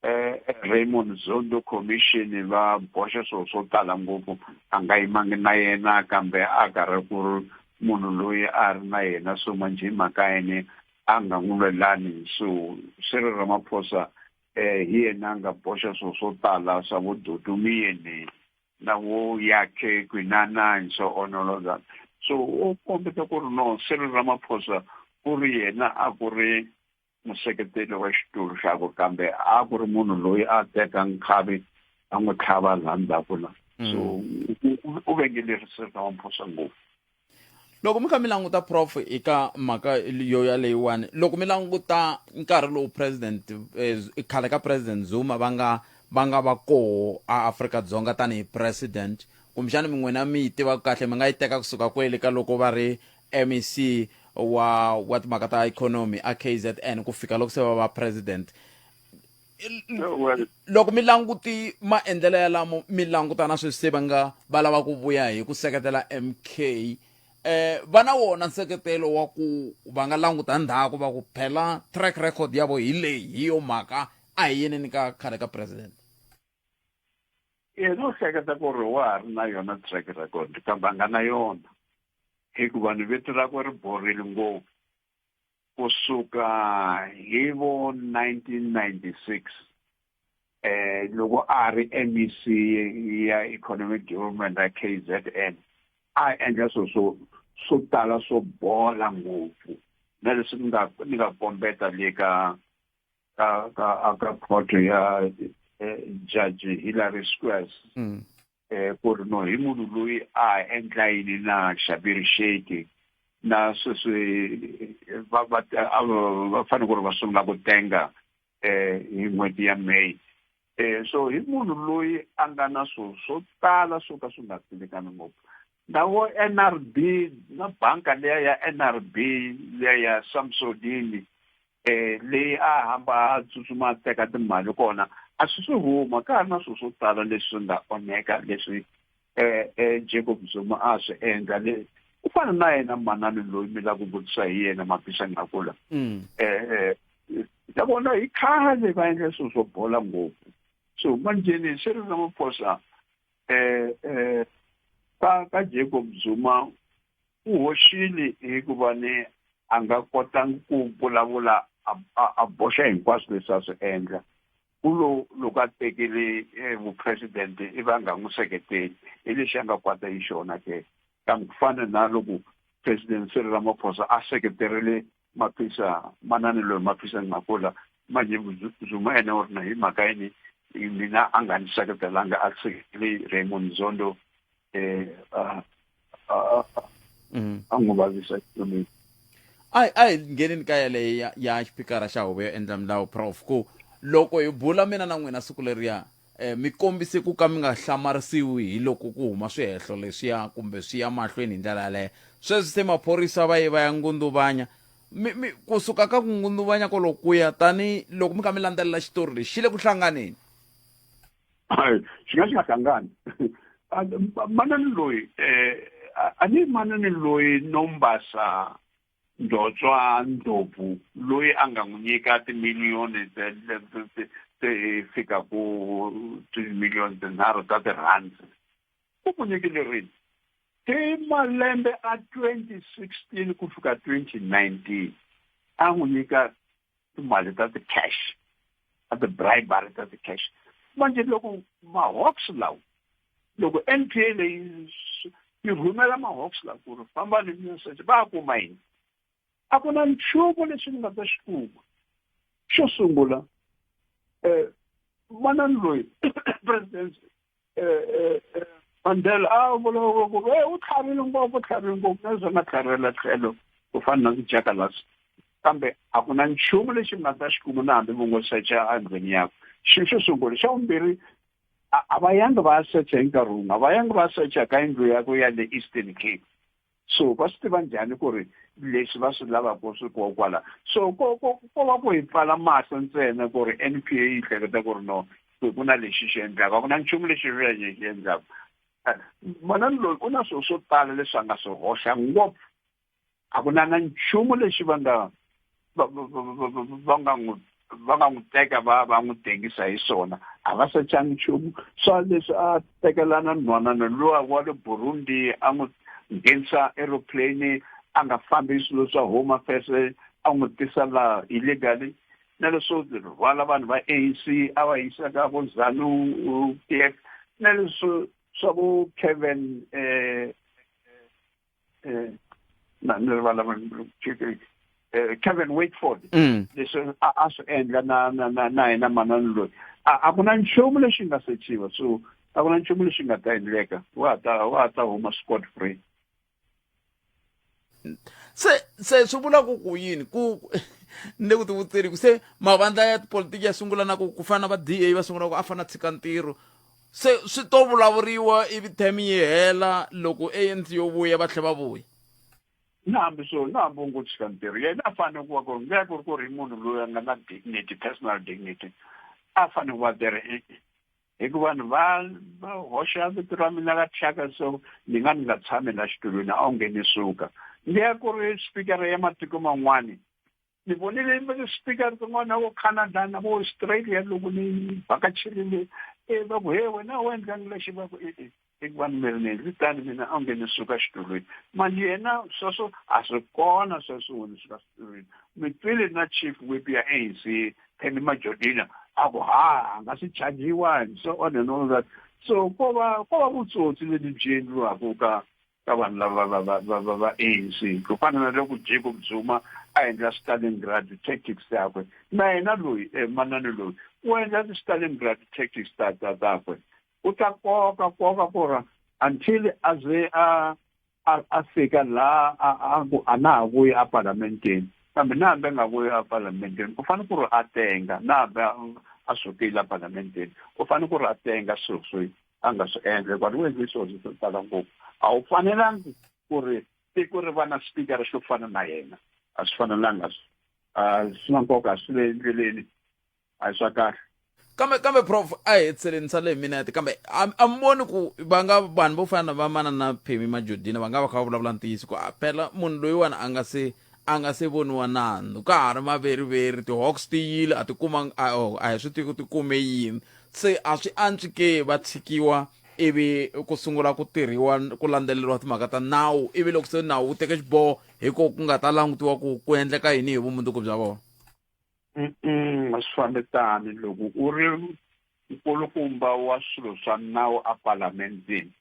eh eh, Raymond Zondo commission va boxa swo swo tala ngopfu a nga yimangi na yena kambe a karhi ku ri munhu loyi a ri na yena so manje hi mhaka yini a nga n'wi lwelani so Cyril Ramaphosa eh, hi yena a nga boxa swo swo tala swa vo dodomiyeni na vo yakhe kwinana and so on all of that so u kombeta ku ri no Cyril Ramaphosa ku ri yena a ku ri museketeli wa xitulu xakwe kambe a ku ri munhu loyi a teka nkhavi a n'wi tlhava laha ndzhaku la so u- u- u vengelerisa Ramaphosa ngopfu loko mi kha mi languta prof eka mhaka yo yaleyiwani loko mi languta nkarhi lowu president eh, khale ka president zuma va nga va nga va koho a afrika dzonga tanihi president kumbexana mi n'wina mi yi tivaka kahle mi nga yi teka kusuka kwele ka loko va ri mec wa wa timhaka ta ikhonomi a kzn ku fika loko se va va president loko mi languti maendlelo yalamo mi langutana sweswi se va nga va lava ku vuya hi ku seketela mk eh va na wona nseketelo wa ku va nga languta ndhaku va ku phela track record ya vo hi leyi hi yo mhaka a hi yeneni ka khale ka president yena u hleketa ku ri wa ha ri na yona track record kambe a nga na yona hikuva ni vito rakwe ri borile ngopfu ku suka hi vo 1996 eh loko a ri MEC ya Economic Development ya KZN a endla swo swo swo tala swo bola ngopfu na leswi ni nga ni nga kombeta le ka ka ka ka court ya eh, Judge Hillary Squares mm. eh, ku ri no hi munhu loyi a endla yini na xabirixeti na sweswi va va va fanele ku ri va sungula ku tenga eh hi n'hweti ya May eh so hi munhu loyi a nga na swo swo tala swo ka swi nga tsinekani ngopfu ndawo NRB na banka leya ya NRB leya Samsodini eh leyi a hamba a tsutsuma a teka timali kona a swi swi huma ka ha ri na swilo swo tala leswi nga onheka leswi eh eh Jacob Zuma a swi endla le ku fana na yena manani loyi mi la ku vutisa hi yena mapisa ngakula Mm. eh ta vona hi khale va endla swilo swo bola ngopfu swi huma njheni swi ri ramaphosa eh eh ka ka Jacob Zuma u hoxile hikuva ni a nga kotangi ku vulavula a a a boxa hinkwaswo leswi a swi endla u lo loko a tekele eh, vupresidente i va nga n'wi seketeli hi lexi a nga kwata hi xona ke kambe ku fana na loko president Cyril Ramaphosa a seketerile maphisa manani loyi maphisa ni makula manje zuma ene u ri na hi mhaka yini mina a nga ni seketelanga a seketele raymond zondo um a n'wi vavisa xikomeni a a hi ngheneni ka yaleyo ya ya xipikara xa huvo yo endla milawu prof ku loko hi bula mina na n'wina siku leriya Mi kombise ku ka mi nga hlamarisiwi hi loko ku huma swihehlo leswiya kumbe swi ya mahlweni hi ndlela yaleyo. Sweswi se maphorisa va ye va ya ngunduvanya. Mi, mi, ku suka ka ku ngunduvanya koloku ku ya tani loko mi kha mi landzelela xitori lexi, xi le ku hlanganeni. Hayi, xi nga xi nga hlangani. Manani loyi, eh, a ni manani loyi Nombasa. Ndzotswa Ndlopfu loyi a nga n'wi nyika timiliyoni ta ti fikaku timiliyoni tinharhu ta tirhandi u ku nyikile rini? Hi malembe a twenty sixteen ku fika twenty nineteen a n'wi nyika timali ta ti-cash ta ti-bribery ta ti-cash manje loko ma-hawks lawa loko n p a leyi yi rhumela ma-hawks lawa ku ri famba ni message va a kuma yini a ku na nchumu lexi ni nga ta xi kuma xo sungula um manani loyi president mandela a ah, vulavula ku e u tlhavile ngopfu tlhavile ngopfu na zona tlhavela tlhelo ku fana na tijakalasi kambe a ku na nchumu lexi mi nga ta xi kuma na hambi vo ngo secha endlwini yakwe xilo xo sungula xa vumbirhi a va yangi va ya secha hi nkarhi wun'we a va yangi va secha ka yindlu yakwe ya le eastern cape so va swi tiva njhani ku ri leswi va swi lavaka swi koho kwala so ko ko ko va ku hi pfala mahlo ntsena ku ri n p a yi hleketa ku ri no ku ku na lexi xi endlaka a ku na nchumu lexi renge xi endlaka manani loyi u na swilo swo tala leswi a nga swi hoxa ngopfu a ku na na nchumu lexi va nga va va va va va va- va nga n'wi va nga n'wi teka va va n'wi tengisa hi swona a va sachangi nchumu swa leswi a tekelana nhwanana luwa wa le burundi a n'wi nghenisa aeroplane a nga fambi hi swilo swa home affairs a n'wi tisa laha illegally na leswo rhwala vanhu va anc a va yisa ka vo zanu p f na leswo swa vo kevin um eh, na ni rivala eh, Kevin Wakeford mm. leswi a swi endla na na na na yena manani loyi a ku na nchumu lexi nga sechiwa so a ku na nchumu lexi nga ta endleka wa ta wa ta huma scot free se se swi vula ku ku yini ku ni le ku tivuteni ku se mavandla ya tipolitiki ya sungula na ku ku fana na va da va sungula ku a fana tshika ntirho se swi to vulavuriwa ivi term yi hela loko anc yo vuya va tlhela va vuya na hambi swo na hambi u ngo tshika ntirho yena a fanele ku va ku ri ngeya ku ri ku ri munhu loyi a nga na dignity personal dignity a fanele ku va there hikuva vanhu va va hoxa vito ra mina ka thyaka so ni nga ni nga tshami la xitulwini a wu nge ni suka ngeya ku ri spikara ya matiko man'wani ni vonile yimbelela speaker rin'wana vo canada na vo australia loko ni vhakacherile e va ku he wena u endlangi lexi va ku e-e eku va ni mirineni ri tani mina a nge ni suka xitulwini mali yena sweswo a swi kona sweswo wo ni suka xitulwini mi twile na chief whip ya a n c kenny majodina a ku ha a nga swi chajiwa so on and all that so ko va ko va vutsotsi lebyi byi endliwaka ka ka vanhu lava va va va va va ANC ku fana na loko Jacob Zuma a endla Stalingrad tactics takwe na yena loyi eh, manani loyi u endla ti-Stalingrad tactics ta ta takwe u ta koka koka ku ra until a ze a a fika la a ku a na ha vuyi a parlamenteni kambe na hambi a nga vuyi a parlamenteni u fanele ku ri a tenga na hambi a sukile a parlamenteni u fanele ku ri a tenga swilo swi a nga swi endla hikuva u endle swilo swo tala ngopfu a wu fanelangi ku ri tiko ri va na xipikara xo fana na yena a swi fanelanga swi swi na nkoka a swi le endleleni a hi swa kahle kambe kambe prof a hi hetseleni sale hi minete kambe a mi voni ku va nga vanhu vo fana na vamanana phemi majodina va nga va kha va vulavula ntiyiso ku a phela munhu loyiwani a nga se a nga se voniwa nandzu ka ha ri maveriveri tihawks ti yile a ti kumanga a oh, a hi swi tivi ku ti kume yini se a swi antswi ke va tshikiwa ivi ku sungula ku tirhiwa ku landzeleriwa timhaka ta nawu ivi loko se nawu wu teke xiboho hi ko ku nga ta langutiwa ku ku endleka yini hi vumundzuku bya vona a swi fambi tani loko u ri nkulukumba wa swilo swa nawu epalamendini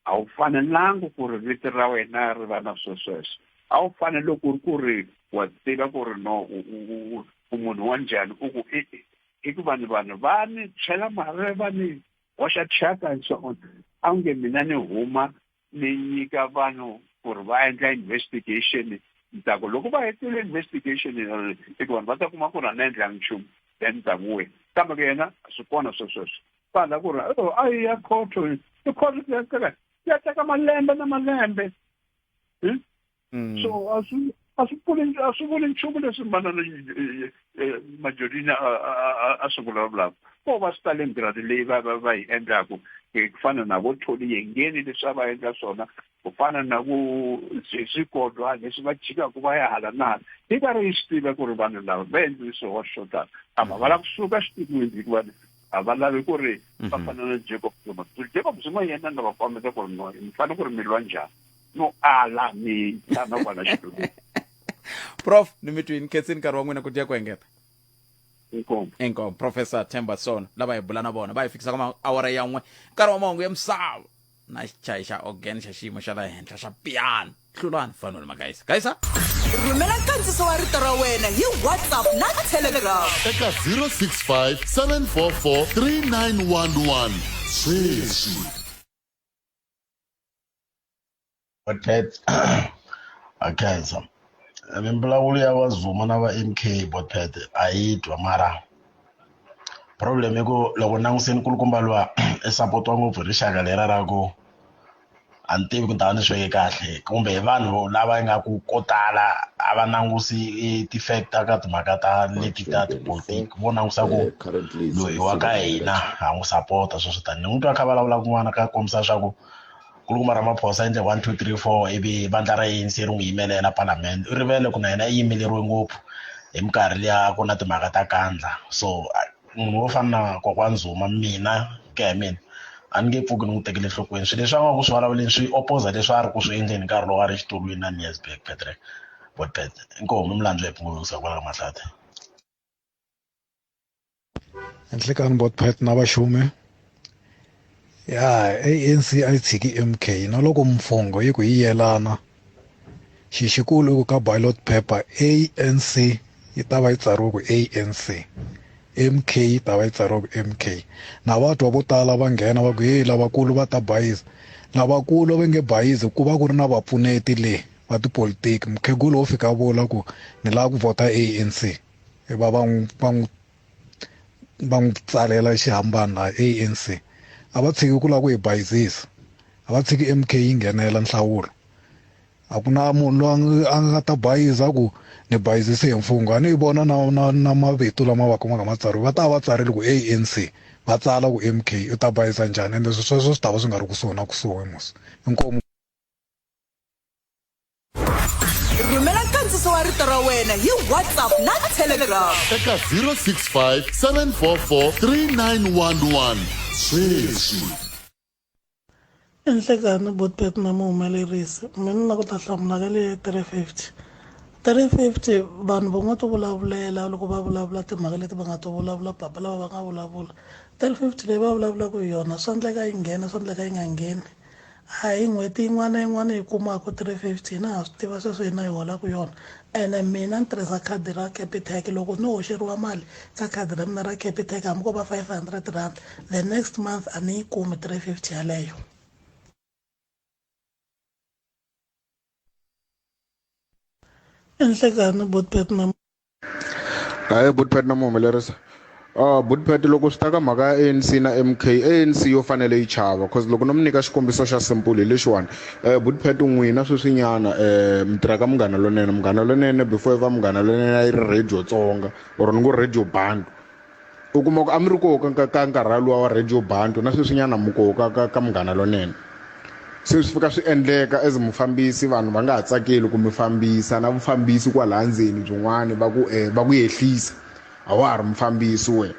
a wu fanelangi ku ri vito ra wena ri va na swesweswo a wu fanele ku ri ku ri wa tiva ku ri no u u u u u munhu wa njhani u ku i i- i ku vanhu vanhu va ni chela marhe va ni hoxa thyaka and so on a wu nge mina ni huma ni nyika vanhu ku ri va endla investigation ni ta ku loko va hetile investigation eh, i ku vanhu va ta kuma ku ri a ni endlangi nchumu then ni ta ku wena kambe ku yena swi kona swesweswo pala ku ri oh, a yi ya khotho i khotho ya teka ya teka malembe na malembe hmm? hmm. so a swi a swi pfuli a swi vuli nchumu leswi manana eh, eh, majolini a swi vulavulaka ko va swi tale ntirhani leyi va va va yi endlaku eh, ku fana na vo tholi yengeni leswi a va endla swona ku fana na ku swikodwa leswi va jikaka va ya hala na hala yi va ri yi swi tiva ku ri vanhu lava va endlile swihoxo swo tala ama va lava kusuka xitikweni hikuva a va lavi ku ri mhm. va fana na jacob zuma jacob zuma yena nga va kombeta ku ri no mi fanele ku ri mi lwa njhani no ala mi tshama kwala xitulwini prof ni mi twini khetsini nkarhi wa n'wina ku dya ku engeta inkomo inkomo professor themba sona lava hi bula na vona va hi fikisa ka maawara yan'we nkarhi wa mahungu ya misava na xichayi xa organ xa xiyimo xa la henhla xa piano hlulani fanoni magayisa gayisa rhumela nkandziso wa rito ra wena hi whatsapp na telegram eka 065 744 3911 sweswi Botet akhensa mimbulavulo ya vazuma na va mk botet a yi twa mara problem i ku loko languseni kulukumba luwa i sapotiwa ngopfu hi rixaka lera ra ku a ni tivi ku ta va ni sweke kahle kumbe hi vanhu lava nga ku ko tala a va langusi ti-fact ta ka timhaka ta leti ta tipolitiki vo langusa ku loyi wa ka hina ha n'wi sapota sweswo tani ni n'wi twa kha vulavula kun'wana ka kombisa swa ku nkulukumba ramaphosa endle one two three four ivi vandla ra anc ri n'wi yimelela palamende u rivele ku na yena i yimeleriwe ngopfu hi minkarhi liya ku na timhaka ta kandla so munhu wo fana na kokwana zuma mina ku ya hi mina a ni nge pfuki ni n'wi tekele enhlokweni swilo leswi a nga ku swi vulavuleni swi opposa leswi a ri ku swi endleni nkarhi lowu a ri xitulwini na niesberg patrick botpet inkomu milandzu ya pfungulusa kwala ka mahlata nhlikani bot pet na vaxumi ya anc a yi tshiki mk na loko mfungho yi ku yi yelana xi xikulu i ku ka ballot paper anc yi ta va yi tsariwe ku anc mk yi ta va yi tsariwe ku mk na vatwa vo tala va nghena va ku heyi lavakulu va ta bayiza lavakulu va nge bayizi ku va ku ri na vapfuneti le va tipolitiki mukhegula wo fika vula ku ni lava ku vhota anc e va va n'wi va n'wi va n'wi tsalela xihambani laha anc a va tshiki ku lava ku hi bayizisa a va tshiki mk yi nghenela nhlawulo a ku na munhu loyi a nga ta bayiza ku ni bayizise hi mfungho a ni yi vona na na na mavito lama va kumaka ma tsariwe va ta va tsarile ku anc va tsala ku mk u ta bayiza njhani ende sweswo swi ta va swi nga ri kusuhi na kusuhi mos inkomu rhumela nkandziso wa rito ra wena hi whatsapp na telegram eka 065 744 3911 sweswi enhlekani botbet na muhumelerisi mina na ku ta hlamula ka leyi 350 350 vanhu va nga to vulavulela loko va vulavula timhaka leti va nga to vulavula papa lava va nga vulavula 350 leyi va vulavulaka hi yona swa ndleka yi nghena swa ndleka yi nga ngheni A hi n'hweti yin'wana na yin'wana hi kumaka 350 na ha swi tiva sweswo hina hi holaka yona ene mina ni tirhisa khadi ra Capitec loko no hoxeriwa mali ka khadi ra mina ra Capitec hambi ko va 500 rand the next month a ni yi kumi 350 yaleyo. Nhlikani Botbet na. hayi butpet na mu humelerisa uh, ah, butpet loko swi ta ka mhaka ya anc na mk anc yo fanele yi chava bcause loko no mi nyika xikombiso xa simple hi lexiwani um eh, butpet n'wina sweswinyana um eh, mi tirhaka munghana lonene munghana lonene before yi va munghana lonene a yi ri radio tsonga or ni ngo radio band U kuma ku a mi ri koho ka, ka, ka nkarhala luwa wa Radio Bantu, na sweswinyana mi koho ka, ka, ka Munghana Lonene. Se swi fika swi endleka as mufambisi vanhu va nga ha tsakeli ku mi fambisa, na vufambisi kwalaya ndzeni byin'wana va ku, um, va ku yehlisa. A wa ha ri mufambisi wena.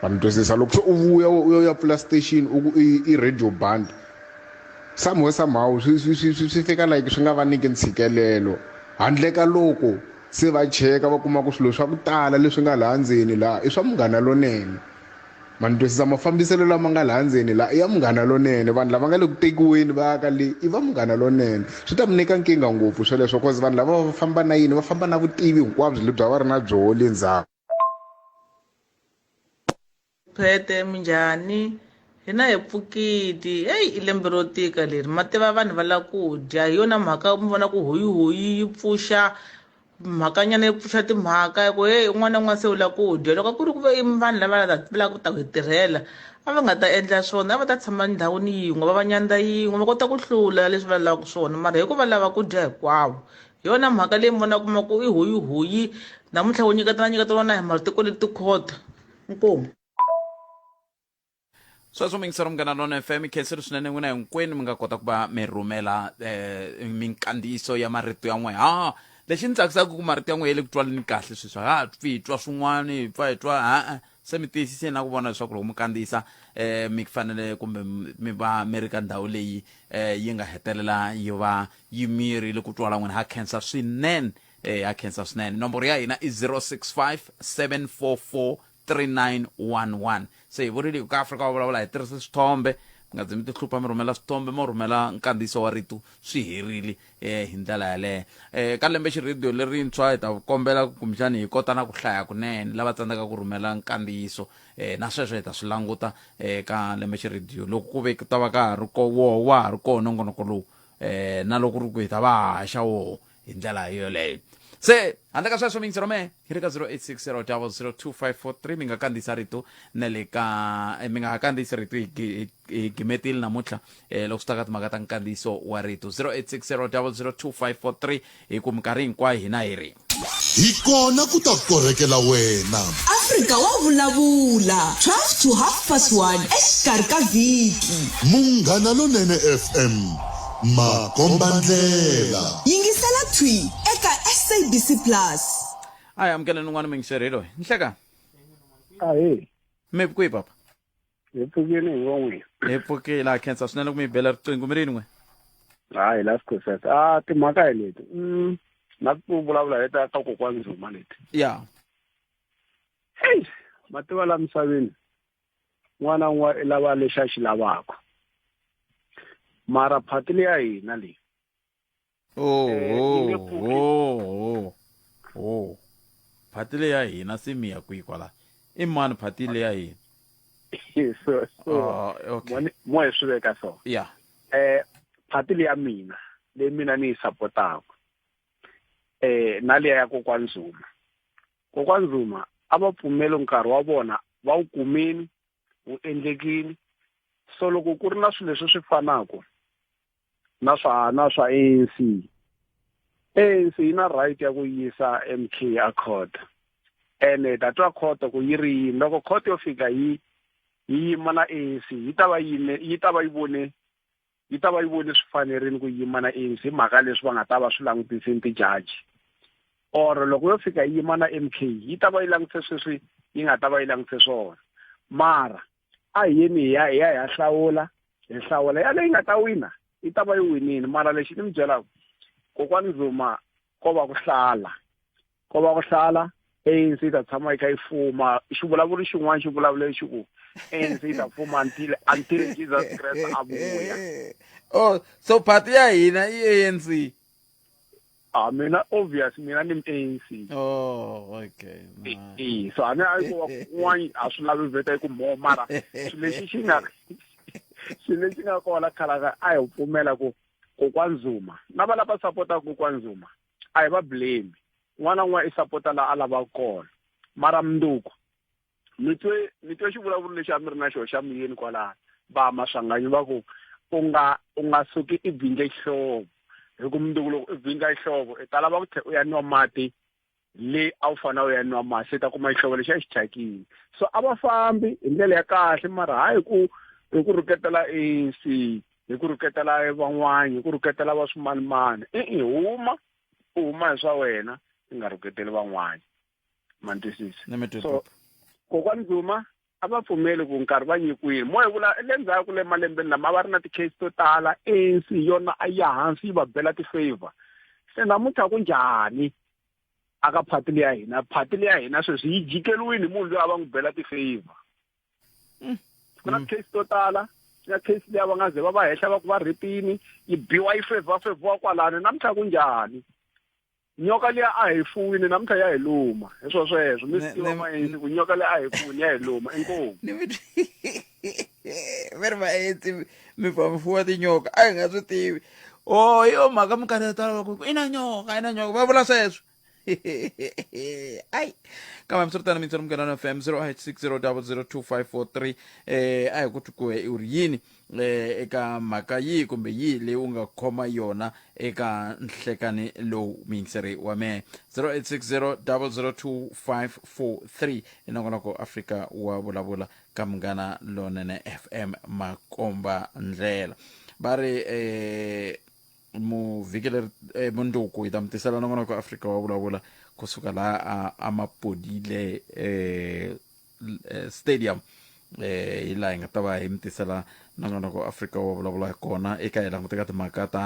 Ma ni twisisa? Loko se u vuya u ya u ya pfula station u ku i, i Radio Bantu, somehow, somehow swi, swi, swi, swi, swi fika like swi nga va nyiki ntshikelelo, handle ka loko. Se va cheka va kuma ku swilo swa ku tala leswi nga laha ndzeni laha i swa Munghana Lonene. Ma ni twisisa? Mafambiselo lama nga laha ndzeni laha i ya Munghana Lonene. Vanhu lava nga le ku tekiweni va ya ka le i va Munghana Lonene. Swi ta mi nyika nkingha ngopfu sweleswo cause vanhu lava va famba na yini va famba na vutivi hinkwabyo lebyi a va ri na byoho le ndzhaku. phete minjhani hina hi pfukiti eyi i lembe ro tika leri ma tiva vanhu va la ku dya hi yona mhaka mi vona ku hoyihoyi yi pfuxa mhakanyana yi pfuxa timhaka hi ku heyi un'wana na un'wana se u la ku dya loko ku ri ku ve i vanhu lava la ta- va lava ku ta ku hi tirhela a va nga ta endla swona a va ta tshama ndhawini yin'we va va nyandza yin'we va kota ku hlula leswi va lavaka swona mara hi ku va lava ku dya hinkwavo hi yona mhaka leyi mona kuma ku i hoyihoyi namuntlha wo nyiketana nyiketana na hi matiko ni tikhoda inkomu sweswo mi yingisela munghana lona fm mi khenseli swinene n'wina hinkwenu mi nga kota ku va mi rhumela um minkandziyiso ya marito ya n'wina ha lexi ni tsakisaka ku marito ya n'wina ya le ku twaleni kahle sweswi ha pfi hi twa swin'wana hi pfa hi twa ha-a se mi tiyisise na ku vona leswaku loko mi kandziyisa um mi fanele kumbe mi va mi ri ka ndhawu leyi um yi nga hetelela yi va yi mirile ku twala n'wina ha khensa swinene um ha khensa swinene nomboro ya hina i 065 744 3911 se hi vurile ku ka afrika va vulavula hi tirhisa swithombe mi nga ze mi tihlupha mi rhumela swithombe mo rhumela nkandziyiso wa rito swi herile e hi ndlela yaleyo um ka lembe xirhediyo lerintshwa hi ta kombela kumbexani hi kota na ku hlaya kunene lava tsandzaka ku rhumela nkandziyiso um na sweswo hi ta swi languta um ka lembe xirhediyo loko ku ve ku ta va ka ha ri ko woho wa ha ri koho nongonoko lowu um na loko ri ku hi ta va haxa woho hi ndlela yoleyo se handle ka sweswo mingisi romee hi le ka 0860002543 mi nga kandziyisa rito na le ka eh, mi nga ha kandziyisi rito hi gi- hi- hi gimetile namuntlha um loko swi ta ka timhaka ta nkandziyiso wa rito 0860002543 hi ku minkarhi hinkwayo hina hi ri hi kona ku ta korhekela wena afrika wa vulavula 12 to half past 1 exikarhi ka vhiki munghana lonene fm Makombandlela. Yingisela Thwi eka SABC Plus. Hi amukela ni n'wana mingiseri loyi. Nhleka. Ahe. Mi pfuki papa. Hi pfukile hi von'we. Hi pfukile ha khensa swinene ku mi bela riqingho mi ri yin'we. Hayi la sikhoseka. Ah timhaka hi leti. Mm. Na ku vulavula hi ta ka kokwana Zuma leti. Yeah. Hey, mativa la misaveni. n'wana n'wa i lava lexi a xi lavaka mara phati leyi ya hina leyi oh, eh, oh, oh, phati leyi ya hina se mi ya kwihi kwala i mani phati leyi ya hina so so ah, okay. mo hi swi veka so ya yeah. eh phati leyi ya mina leyi mina ni yi sapotaka eh na leya ya kokwani zuma Kokwani Zuma a va pfumeli nkarhi wa vona va wu kumini wu endlekini so loko ku ri na swilo leswi swi fanaka na swa na swa ANC ANC yi na right ya ku yisa MK a court ene ta twa court ku yi ri yini loko court yo fika yi yi yima na ANC yi ta va yime yi ta va yi vone yi ta va yi vone swi fanerile ku yima na ANC hi mhaka leswi va nga ta va swi langutise ni tijaji or loko yo fika yi yima na MK yi ta va yi langutise sweswi yi nga ta va yi langutise swona mara a hi yeni hi ya hi ya hi ya hlawula hi hlawula yaleyi nga ta wina yi ta va yi winile mara lexi ni mi byelaka kokwani Zuma ko va ku hlala ko va ku hlala ANC ta tshama yi kha yi fuma xivulavuri xin'wana xi vulavula lexi ku ANC ta fuma until until Jesus Christ a vuya oh so party ya hina i ANC Ah mina obvious mina ni ANC. Oh okay. Eh so ana ayi ko wani a swi lavi veta ku mo mara swi lexi xi nga swi lexi nga kona khala a hi pfumela ku kokwani zuma na va lava sapotaka kokwani zuma a hi va blame n'wana n'wana i sapota laha a lavaka kona mara mundzuku mi twe mi twe xivulavuri lexi a mi ri na xona xa muyeni kwalaha va maswanganyi va ku u nga u nga suki i bindle xihlovo hi ku mundzuku loko i bindla xihlovo i ta lava ku tlhe u ya nwa mati leyi a wu fanele u ya nwa masi i ta kuma xihlovo lexi a xi thyakile so a va fambi hi ndlela ya kahle mara hayi ku hi ku rhuketela anc hi ku rhuketela van'wana hi ku rhuketela va swimanimani i-i huma u huma hi swa wena i nga rhuketeli van'wana ma ni twisisa so kokwani duma a va pfumeli ku nkarhi va nyikiwile mo hi vula le ndzhaku le malembeni lama a va ri na ti-case to tala anc yona a ya hansi yi va bela ti-favor se namuntlha ku njhani a ka phati leyi ya hina phati leyi ya hina sweswi yi jikeliwini hi munhu loyi a va n'wi bela ti-favor mm. ku na mm. case to tala ya case leyi va nga ze va va henhla va ku va rhipini yi biwa yi favor favor kwalani namuntlha ku njhani nyoka liya a hi fuwini namuntlha ya hi luma hi swo sweswo mi swi tiva vaendzi ku nyoka liya a hi fuwini ya hi luma inkomu mi ri vaendzi mi fa mi fuwa tinyoka a hi nga swi tivi o oh, hi yo mhaka minkarhi yo tala vaku i na nyoka i na nyoka va vula sweswo ai kambe mi swi ri tani mintswari mugana na fm 0860 002 543 um a hi ku twi ku he i ri yini eh, eka mhaka yihi kumbe yihi leyi u nga khoma yona eka nhlekani lowu muyingiseri wa mehe 0860 002543 i nongonoko afrika wa vulavula ka munghana lonene fm makomba ndlela va ri eh, muvhikileri eh, munduku hi ta mi tisela nongonoko afrika wa vulavula kusuka laha a, a mapodile eh, eh, stadium eh hi laha hi nga ta va hi mi tisela nongonoko wa afrika wo vulavula hi kona eka hi languteka timhaka ta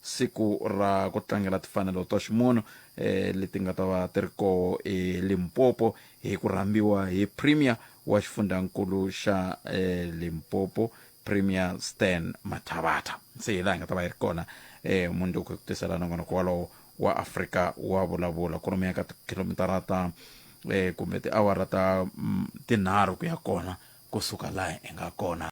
siku ra ku tlangela timfanelo ta ximunhu eh leti nga ta va ti ri koho elimpopo hi ku rhambiwa hi premier wa xifundzankulu xa eh limpopo premier stan mathavatha se hi laha hi nga ta va yi ri kona eh mundzuku hi ku tisela nongonoko walowo wa afrika wa vulavula ku lomuya ka tikhilomitara ta eh kumbe tiawara ta mm, tinharhu ku ya kona kusuka laha hi nga kona